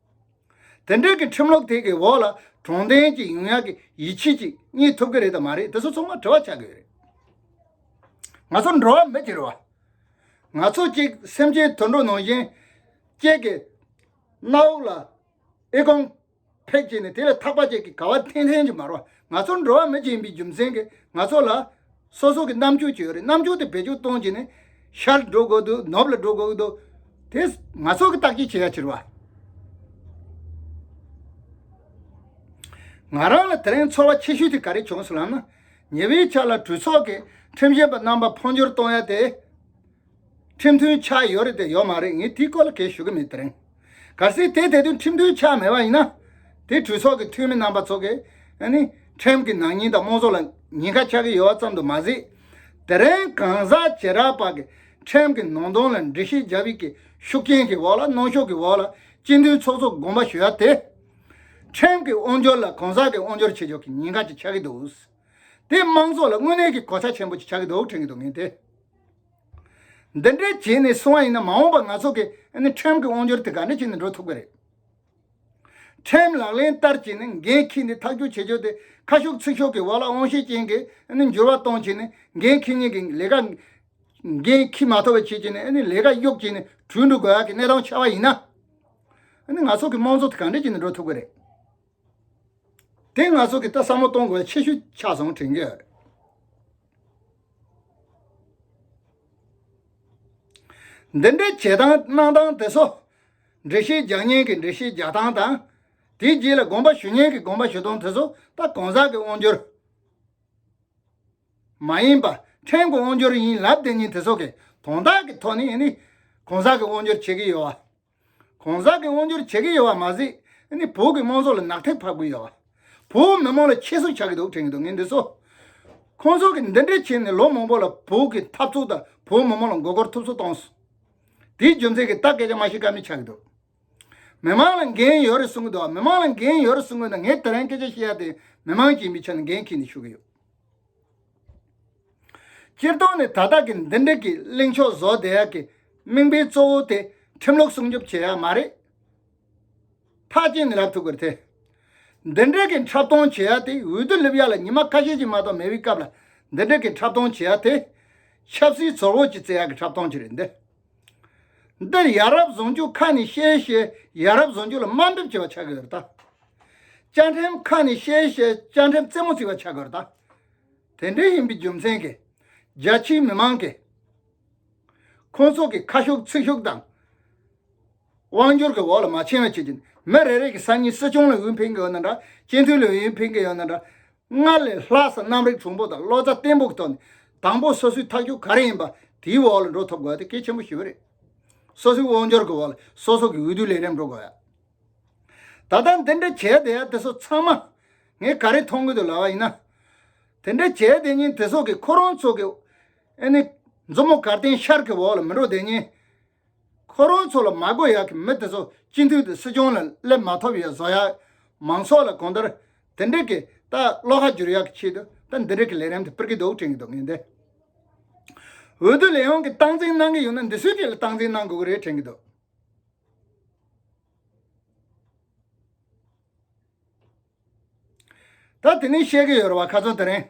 དེ་འབྲེལ་གྱི་ཁྲིམས་ལུགས་དེ་གའི་འོག་ལ་གྲོང་བརྡལ་གྱི་ཡུང་ཡང་གི་ཡིད་ཆེས་ཅིག་རྙེད་ཐུབ་ཀྱི་རེད་དམ་མ་རེད་དེ་ཚོ་ཚང་མ་དྲི་བ་བྱ་དགོས་རེད། ང་ཚོ་འགྲོ་བ་མི་དེར་བ། ང་ཚོ་གཅིག་སེམས་ཅན་དུད་འགྲོ་ནང་བཞིན་གཅིག་གི་མནའ་དབུགས་ལ་ཨི་ཀོང་ཕེབས་བྱས་ནས་དེ་ལས་ཐག་པ་གཅིག་གི་ག་བ་འཐེན་ལྷན་གྱི་མར་བ་ང་ཚོ་འགྲོ་བ་མི་གཅིག་ཡིན་པའི་རྒྱུ་མཚན་གྱིས་ང་ཚོ་ལ། སོ་སོ་གི་རྣམ་འགྱུར་གྱིས་ཡོད་རེད་རྣམ་འགྱུར་དེ་བེད་སྤྱོད་གཏོང་གྱིས་ནི། ཤར་ལ་འགྲོ་དགོས་འདུག་ནུབ་ལ་འགྲོ་དགོས་འདུག་དེ་ང་ཚོ་གི་བརྟག་དཔྱད་བྱེད་ཡ་ཕྱིར་བ། ང་རང་ལ་དེ་རིང་ཚོར་བ་ཆེ་ཤོས་དེ་ག་རེ་བྱུང་སོང་ལབ་ན། ཉེ་བའི་ཆ་ལ་གྲོས་ཚོགས་ཀྱི་ཁྲིམས་ཞིབ་པ་རྣམ་པ་འཕོ་འགྱུར་གཏོང་ཡ་དེ། ཁྲིམས་མཐུན་ཆགས་ཡོད་རེད་དེ་ཡོད་མ་རེད་ངས་དེའི་སྐོར་ལ་གས་ཞུ་གི་མེད་དེ་རིང། གལ་སྲིད་དེ་དེ་དོན་ཁྲིམས་མཐུན་ཆགས་མེད་པ་ཡིན་ན། དེ་གྲོས་ཚོགས་ཀྱི་འཐུས་མི་རྣམ་པ་ཚོ་གས་ནི་ཁྲིམས་ཀྱི་ནག་ཉེས་དང་དམངས་གཙོ་ལ་ཉེན་ཁ་ཆགས་ཀྱི་ཡོད་པ་ཙམ་དུ་མ་ཟད། དེ་རིང་གང་ཟག་བྱེ་བྲག་པ་གིས་ཁྲིམས་ཀྱི་ནང་དོན་ལ་འགྲེལ་བཤད་རྒྱབ་ཡིག་གི་ཤུགས་རྐྱེན་གྱི་འོག་ལ་གནོན་ཤུགས་ཀྱི་འོག་ལ་སྤྱི་མཐུན་ཚོགས་གཙོ་དགོངས་པ་ཞུ་ཡ་དེ། ཁྲིམས་ཀྱི་དབང་སྒྱུར་ལ་གང་ཟག་གི་དབང་སྒྱུར་བྱེད་ཕྱོགས་ཀྱི་ཉེན་ཁ་ཅིག་ཆགས་ཀྱི་འདུག་དེ་དམངས་གཙོ་ལ་དངོས་གནས་ཀྱི་གོ་ཆ་ཆེན་པོ་ཅིག་ཆགས་ཀྱི་འདུག་དྲན་གྱི་འདུག་ངས་དེ། འདི་འདྲའི་བྱས་ནས་སོང་བ་ཡིན་ན་མ་འོངས་པ་ང་ཚོ་གི་ཁྲིམས་ཀྱི་དབང་སྒྱུར་དེ་ག་འདྲ་བྱས་ནས་འགྲོ་ཐུབ་ཀྱི་རེད། ཁྲིམས་ལག་ལེན་བསྟར་བྱས་ནས་འགན་འཁྱིས་ནས་ཐག་གཅོད་བྱེད་ཕྱོགས་དེ་ཁ་ཤོག་ཚིག་ཤོག་གི་བར་ལ་དབང་ཤེད་ཅན་གྱིས་འགྱུར་བ་གཏོང་བྱས་ནས་འགན་འཁྱིས་ཉིན་གྱི་ལས་ཀ་འགན་འཁྱིས་མ་ཐོབ་པ་བྱས་བྱས་ནས་ལས་ཀ་གཡོག་བྱས་ནས་བྲོས་འགྲོ་དགོས་ཡག་གི་གནས་སྟངས་ཆགས་པ་ཡིན་ན། ང་ཚོ་གི་དམངས་གཙོ་དེ་ག་འདྲ་བྱས་ནས་འགྲོ་ཐུབ་ཀྱི་རེད། དེ་ང་ཚོ་གི་ད་བསམ་བློ་གཏོང་དགོས་པ་ཆེ་ཤོས་ཆགས་སོང་དྲན་གྱི་ཡོད་རེད། འདི་འདྲའི་བྱེད་སྟངས་གནང་སྟངས་དེ་ཚོ་འདྲེ་ཤེས་རྒྱག་ཉན་གྱི་འདྲེ་ཤེས་རྒྱག་སྟངས་དང། དེའི་རྗེས་ལ་དགོངས་པ་ཞུ་ཉན་གྱི་དགོངས་པ་ཞུ་སྟངས་དེ་ཚོ་ད་གང་ཟག་གི་དབང་སྒྱུར་མ་ཡིན་པ་ཕྲན་གྱི་དབང་སྒྱུར་ཡིན་ལབ་དེ་ཉིན་དེ་ཚོ་གིས་དོན་དག་གི་ཐོག་ནས་ནི་གང་ཟག་གི་དབང་སྒྱུར་བྱེད་ཀྱི་ཡོད། གོང་གསལ་གྱི་དབང་སྒྱུར་བྱེད་ཀྱི་ཡོད་པ་མ་ཟད་ནི་བོད་ཀྱི་དམངས་ཚོགས་ལ་ནག་ཐིག་ཕབ་དགོས་ཡོད། བོད་མི་དམངས་ལ་ཁྱད་གསོད་བྱ་གི་འདུག་དྲན་གི་འདུག་ངས་འདི་ཚོ། ཁོང་ཚོ་གིས་འདི་འདྲའི་བྱས་ནས་ལོ་མང་པོ་ལ་བོད་ཀྱི་འཐབ་རྩོད་དང་བོད་མི་དམངས་ལ་མགོ་སྐོར་ཐུབ་ཚོད་གཏོང་སོང། དེའི་རྒྱུ་མཚན་གྱིས་ད་སྐད་ཆ་མ་བཤད་ཀ་མེད་ཆགས་ཀྱི་འདུག། མི་དམངས་ལ་འགན་ཡོད་རེད་གསུང་གི་འདུག་མི་དམངས་ལ་འགན་ཡོད་རེད་གསུང་གི་འདུག་ངས་དེ་རིང་སྐད་ཆ་བཤད་ཡ་དེ་མི་དམངས་ཀྱིས་མི་ཆ་ནས་འགན་འཁྱེར་ནས་ཞུ་གི་ཡོད། སྤྱིར་བཏང་ནི་ད་ལྟ་གི་འདི་འདྲིལ་གྱི་གླེང་ཕྱོགས་བཟོ་བདེ་ཡག་གི་དམིགས་འབེན་གཙོ་བོ་དེ་ཁྲིམས་ལུགས་སྲུང་སྐྱོབ་བྱེད་ཡག་མ་རེད། ཐག་བཅད་ནས་ལབ་ཐུབ་དགོས་ཐལ། འདི་འདྲིལ་གྱི་འཁྲབ་སྟོང་བྱེད་ཡག་དེ་འོས་བསྡུ་སླེབས་ཡག་ལ་ཉི་མ་ཁ་ཤས་ཀྱི་མ་གཏོགས་མེད་པའི་སྐབས་ལ་འདི་འདྲིལ་གྱི་འཁྲབ་སྟོང་བྱེད་ཡག་དེ། ཆབ་སྲིད་ཚོར་བོ་ཅི་བརྩི་ཡག་གི་འཁྲབ་སྟོང་ཅིག་རེད་འདི། འདིར་ཡ་རབས་བཟོ་འཇུག་ཁ་ནས་བཤད་བཤད་ཡ་རབས་བཟོ་འཇུག་ལ་དམའ་འབེབས་བྱེད་པ་ཆགས་ཀྱི་ཡོད་ད། བཅའ་ཁྲིམས་ཁ་ནས་བཤད་བཤད་བཅའ་ཁྲིམས་རྩེ་མོ་བརྩིགས་པ་ཆགས་ཀྱི་ཡོད་ད། དེ་འདྲའི་ཡིན་པའི་རྒྱུ་མཚན་གྱིས། རྒྱ་ཆེའི་མི་མང་གིས། ཁོང་ཚོ་གི་ཁ་ཤུགས་ཚིག་ཤུགས་དང། དབང་བསྒྱུར་གྱི་འོག་ལ་མ་ཕྱིན་བ་བྱེད་ཀྱི། མི་རེ་རེ་གྱི་སང་ཉིན་སྲིད་སྐྱོང་ལ་འོས་འཕེན་གི་ཡོད་ན་འདྲ། སྤྱི་འཐུས་ལ་འོས་འཕེན་གི་ཡོད་ན་འདྲ། སྔར་ལས་ལྷག་བསམ་རྣམ་རིག་དྲུང་པོ་དང་བློ་རྩ་བརྟན་པོ་གྱི་ཐོག་ནས། དང་པོ་སོ་སོའི་ཐག་གཅོད་ག་རེ་ཡིན་པ་དེའི་འོག་ལ་འགྲོ་ཐུབ་དགོས་པ་དེ་གལ་ཆེན་པོ་ཞིག་རེད། སོ་སོའི་དབང་བསྒྱུར་གྱི་འོག་ལ་སོ་སོ་གྱི་འོས་བསྡུའི་ལས་རིམ་འགྲོ་དགོས་ཡ། ད་ལྟ་འདི་འདྲ་བྱས་བསྡད་ཡ་དེ་སོགས་ཚང་མ་ངས་ག་རེ་མཐོང་གི་འདུག་ལབ་པ་ཡིན་ན། དེ་འདྲ་བྱས་བསྡད་ཉིན་དེ་སོགས་ཀྱི་ཁོ་རང་ཚོ་གི། ཨེ་ནི། མཛུབ་མོ་གར་སྟེང་ཤར་གྱི་འོག་ལ་མི་འགྲོ་བསྡད་ཉིན། ཁོ་རང་ཚོ་ལ་མ་བསྒོ་ཡག་གི་མི་དེ་ཚོ་སྤྱི་འཐུས་དེ་སྲིད་སྐྱོང་ལ་སླེབས་མ་ཐོབ་ཡག་བཟོ་ཡག་མང་ཚོགས་ལ་གོང་ལྟར་དེ་འདྲི་གི་ད་བློ་ཁ་འགྱུར་ཡག་གི་ཆེད་དུ་ད་འདི་འདྲི་གི་ལས་རིམ་དེ་སྤེལ་གི་འདུག་དྲན་གི་འདུག་ངས་འདི་འོས་བསྡུ་ལས་ཡོངས་ཀྱི་སྟངས་འཛིན་གནང་གི་ཡོད་ན་འདི་སུས་ཀྱི་ལ་སྟངས་འཛིན་གནང་དགོས་གི་རེད་དྲན་གི་འདུག། ད་དེ་ནས་བཤད་ཀྱི་ཡོད་བ་ག་ཚོད་དེ་རིང།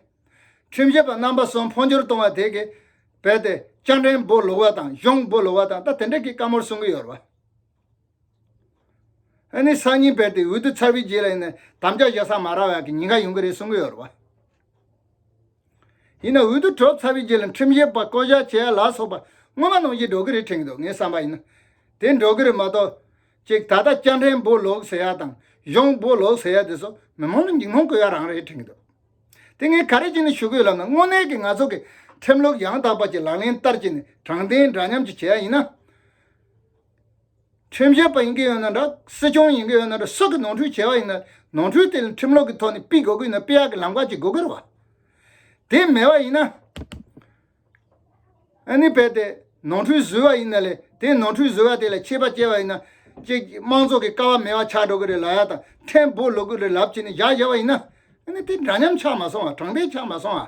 ཁྲིམས་བཤད་པ་རྣམ་པ་གསུམ་འཕོ་འགྱུར་གཏོང་བ་དེ་གི་བལ་ཏེ་སྤྱན་འདྲེན་འབུ་ལུག་བ་དང་གཞུང་འབུ་ལུག་བ་དང་ད་དེ་འདྲ་གི་བཀའ་མོར་གསུང་གི་ཡོད་བ། ཨ་ནི་སང་ཉིན་བལ་ཏེ་འོས་བསྡུ་ཚར་བའི་རྗེས་ལ་ཡིན་ནའི་དམ་བཅའ་བཞག་ས་མ་རག་བ་ཡག་གི་ཉིན་འགའ་ཡོང་གི་རེད་གསུང་གི་ཡོད་བ། ཡིན་ནའང་འོས་བསྡུ་གྲོལ་ཚར་བའི་རྗེས་ལ་ཁྲིམས་བཞེས་པ་བསྐོ་བཞག་བྱས་ཡ་ལགས་སོགས་པ་སྔོན་མ་གནང་གཞི་འགྲོ་གི་རེད་དྲན་གི་འདུག་ངའི་བསམ་པ་ཡིན་ན། དེ་འགྲོ་གི་རེད་མ་གཏོགས། གཅིག་ད་ལྟ་སྐྱ་འཕྲེང་སྦོ་ལོག་ཟེར་ཡ་དང་གཞོང་སྦོ་ལོག་ཟེར་ཡ་དེ་སོགས་མི་མང་ལ་འཇིགས་སྣང་སྐུལ་ཡ་རང་རེད་དྲན་གི་འདུག་དེ་ངས་ག་རེ་བྱས་ནས་ཞུ་གི་ཡོད་ལབ་ན་དངོས་གནས་ཀྱི་ང་ཚོ་གི་ཁྲིམས་ལུགས་ཡང་དག་པ་ཅིག་ལག་ལེན་བསྟར་བྱས་ནས་དྲང་བདེན་འདྲ་མཉམ་ཅིག་བྱས་ཡ་ཡིན་ན། ཁྲིམས་བཤད་པ་ཡིན་གྱི་ཡོད་ན་འདྲ། སྲིད་སྐྱོང་ཡིན་གྱི་ཡོད་ན་འདྲ་སྲིད་ཀྱི་ནོར་འཁྲུལ་བྱས་པ་ཡིན་ན་ནོར་འཁྲུལ་དེ་ལ་ཁྲིམས་ལོག་གི་ཐོག་ནས་དཔེ་དགག་གི་ཡིན་ན་དཔེ་ཡག་གི་ལམ་ཁ་ཅིག་དགོས་གི་རེད་བ། དེ་མེད་པ་ཡིན་ན། ཨ་ནི་བལྟས་ཏེ་ནོར་འཁྲུལ་བཟོས་པ་ཡིན་ན་ལས་དེ་ནོར་འཁྲུལ་བཟོས་པ་དེ་ལ་ཆད་པ་བཅད་པ་ཡིན་ན། ཅིག་དམངས་ཚོགས་ཀྱི་ཀ་བ་མེད་པ་ཆགས་འགྲོ་གི་རེད་ལ་ཡག་དང་ཕྲན་བུ་ལོག་གི་རེད་ལབ་བྱས་ནས་བཞག་བཞག་པ་ཡིན་ན། ཨ་ནི་དེ་འདྲ་ཉམས་ཆགས་མ་སོང་བ་དྲང་བདེན་ཆགས་མ་སོང་བ།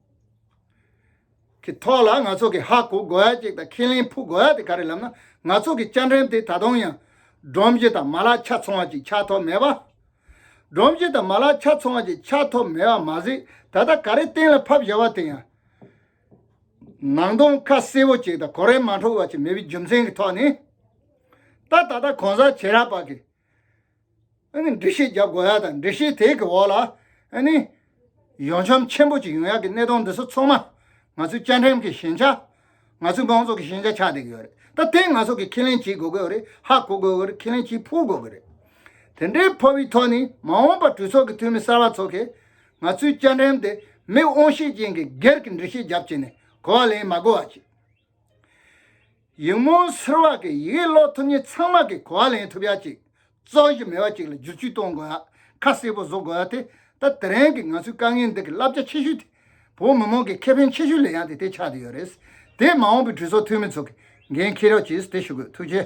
གི་ཐོག་ལ་ང་ཚོ་གི་ཧ་གོ་དགོས་ཡ་ཅིག་དང་ཁས་ལེན་ཕུག་དགོས་ཡ་དེ་ག་རེད་ལབ་ན་ང་ཚོ་གི་བཅའ་འགྲེམས་དེ་ད་དུང་ཡང། སྒྲོམ་གཞི་དང་མ་ལག་ཆ་ཚང་བ་ཅིག་ཆགས་ཐོབ་མེད་པ། སྒྲོམ་གཞི་དང་མ་ལག་ཆ་ཚང་བ་ཅིག་ཆགས་ཐོབ་མེད་པ་མ་ཟད་ད་ལྟ་ག་རེ་གཏན་ལ་ཕབ་བཞག་པ་དེ་ཡང། ནང་དོན་ཁ་གསལ་བོ་ཅིག་དང་གོ་རེ་མ་འཕྲོ་བ་ཅིག་མེད་པའི་རྒྱུ་མཚན་གི་ཐོག་ནས། ད་ད་ལྟ་གོང་གསལ་བྱེད་རག་པ་གིས་འདྲི་ཤེས་རྒྱབ་དགོས་ཡ་དང་འདྲི་ཤེས་དེ་གི་འོག་ལ་ཡོ་འཁྱམ་ཆེན་པོ་གཅིག་ཡོང་ཡ་གི་གནས་སྟངས་འདི་ཚོ་ཚང་མ་ང་ཚོའི་བཅའ་ཁྲིམས་ཀྱི་ཞན་ཆ། ང་ཚོའི་མང་ཚོགས་ཀྱི་ཞན་ཆ་ཆགས་བསྡད་ཀྱི་ཡོད་རེད་ད་དེ་ང་ཚོ་གི་ཁས་ལེན་བྱེད་དགོས་ཀྱི་རེད་ཧ་གོ་དགོས་ཀྱི་རེད་ཁས་ལེན་བྱེད་ཕོད་དགོས་ཀྱི་རེད། དེ་འདྲའི་ཕོ་བའི་ཐོག་ནས་མ་འོངས་པ་གྲོས་ཚོགས་ཀྱི་འཐུས་མི་གསར་བ་ཚོ་གིས་ང་ཚོའི་བཅའ་ཁྲིམས་དེ་མི་དབང་ཤེད་ཅན་གྱི་སྒེར་གྱི་འདྲི་ཤེས་རྒྱབ་བྱས་ནས་གོ་བ་ལེན་མ་དགོས་བ་བྱེད། ཡིག་རྨོངས་སེལ་བ་གི་ཡི་གེ་ཀློག་ཐུབ་ཉིན་ཚང་མ་གི་གོ་བ་ལེན་ཐུབ་ཡ་ཅིག་གཙོ་གཞི་མེད་བ་ཅིག་ལ་བསྒྱུར་བཅོས་གཏོང་དགོས་ཡ་ཁ་གསལ་པོ་བཟོ་དགོས་ཡ་དེ་ལྟ་དེ་རན་གི་ང་ཚོའི་དཀའ་ངལ་འདི་གི་བསླབ་བྱ་ཆེ་ཤོས་དེ་བོད་མི་མང་གི་ཁེ་ཕན་ཆེ་ཤོས་ལས་ཡང་དེ་དེ་ཆགས་དེ་ཡོད་རེད་དེ་མ་འོངས་པའི་གྲོས་ཚོགས་འཐུས་མི་ཚོགས་གི་འགན་འཁྱེར་ཡོ་ཅིག་དེ་ཞུ་དགོས་ཐུགས་རྗེ།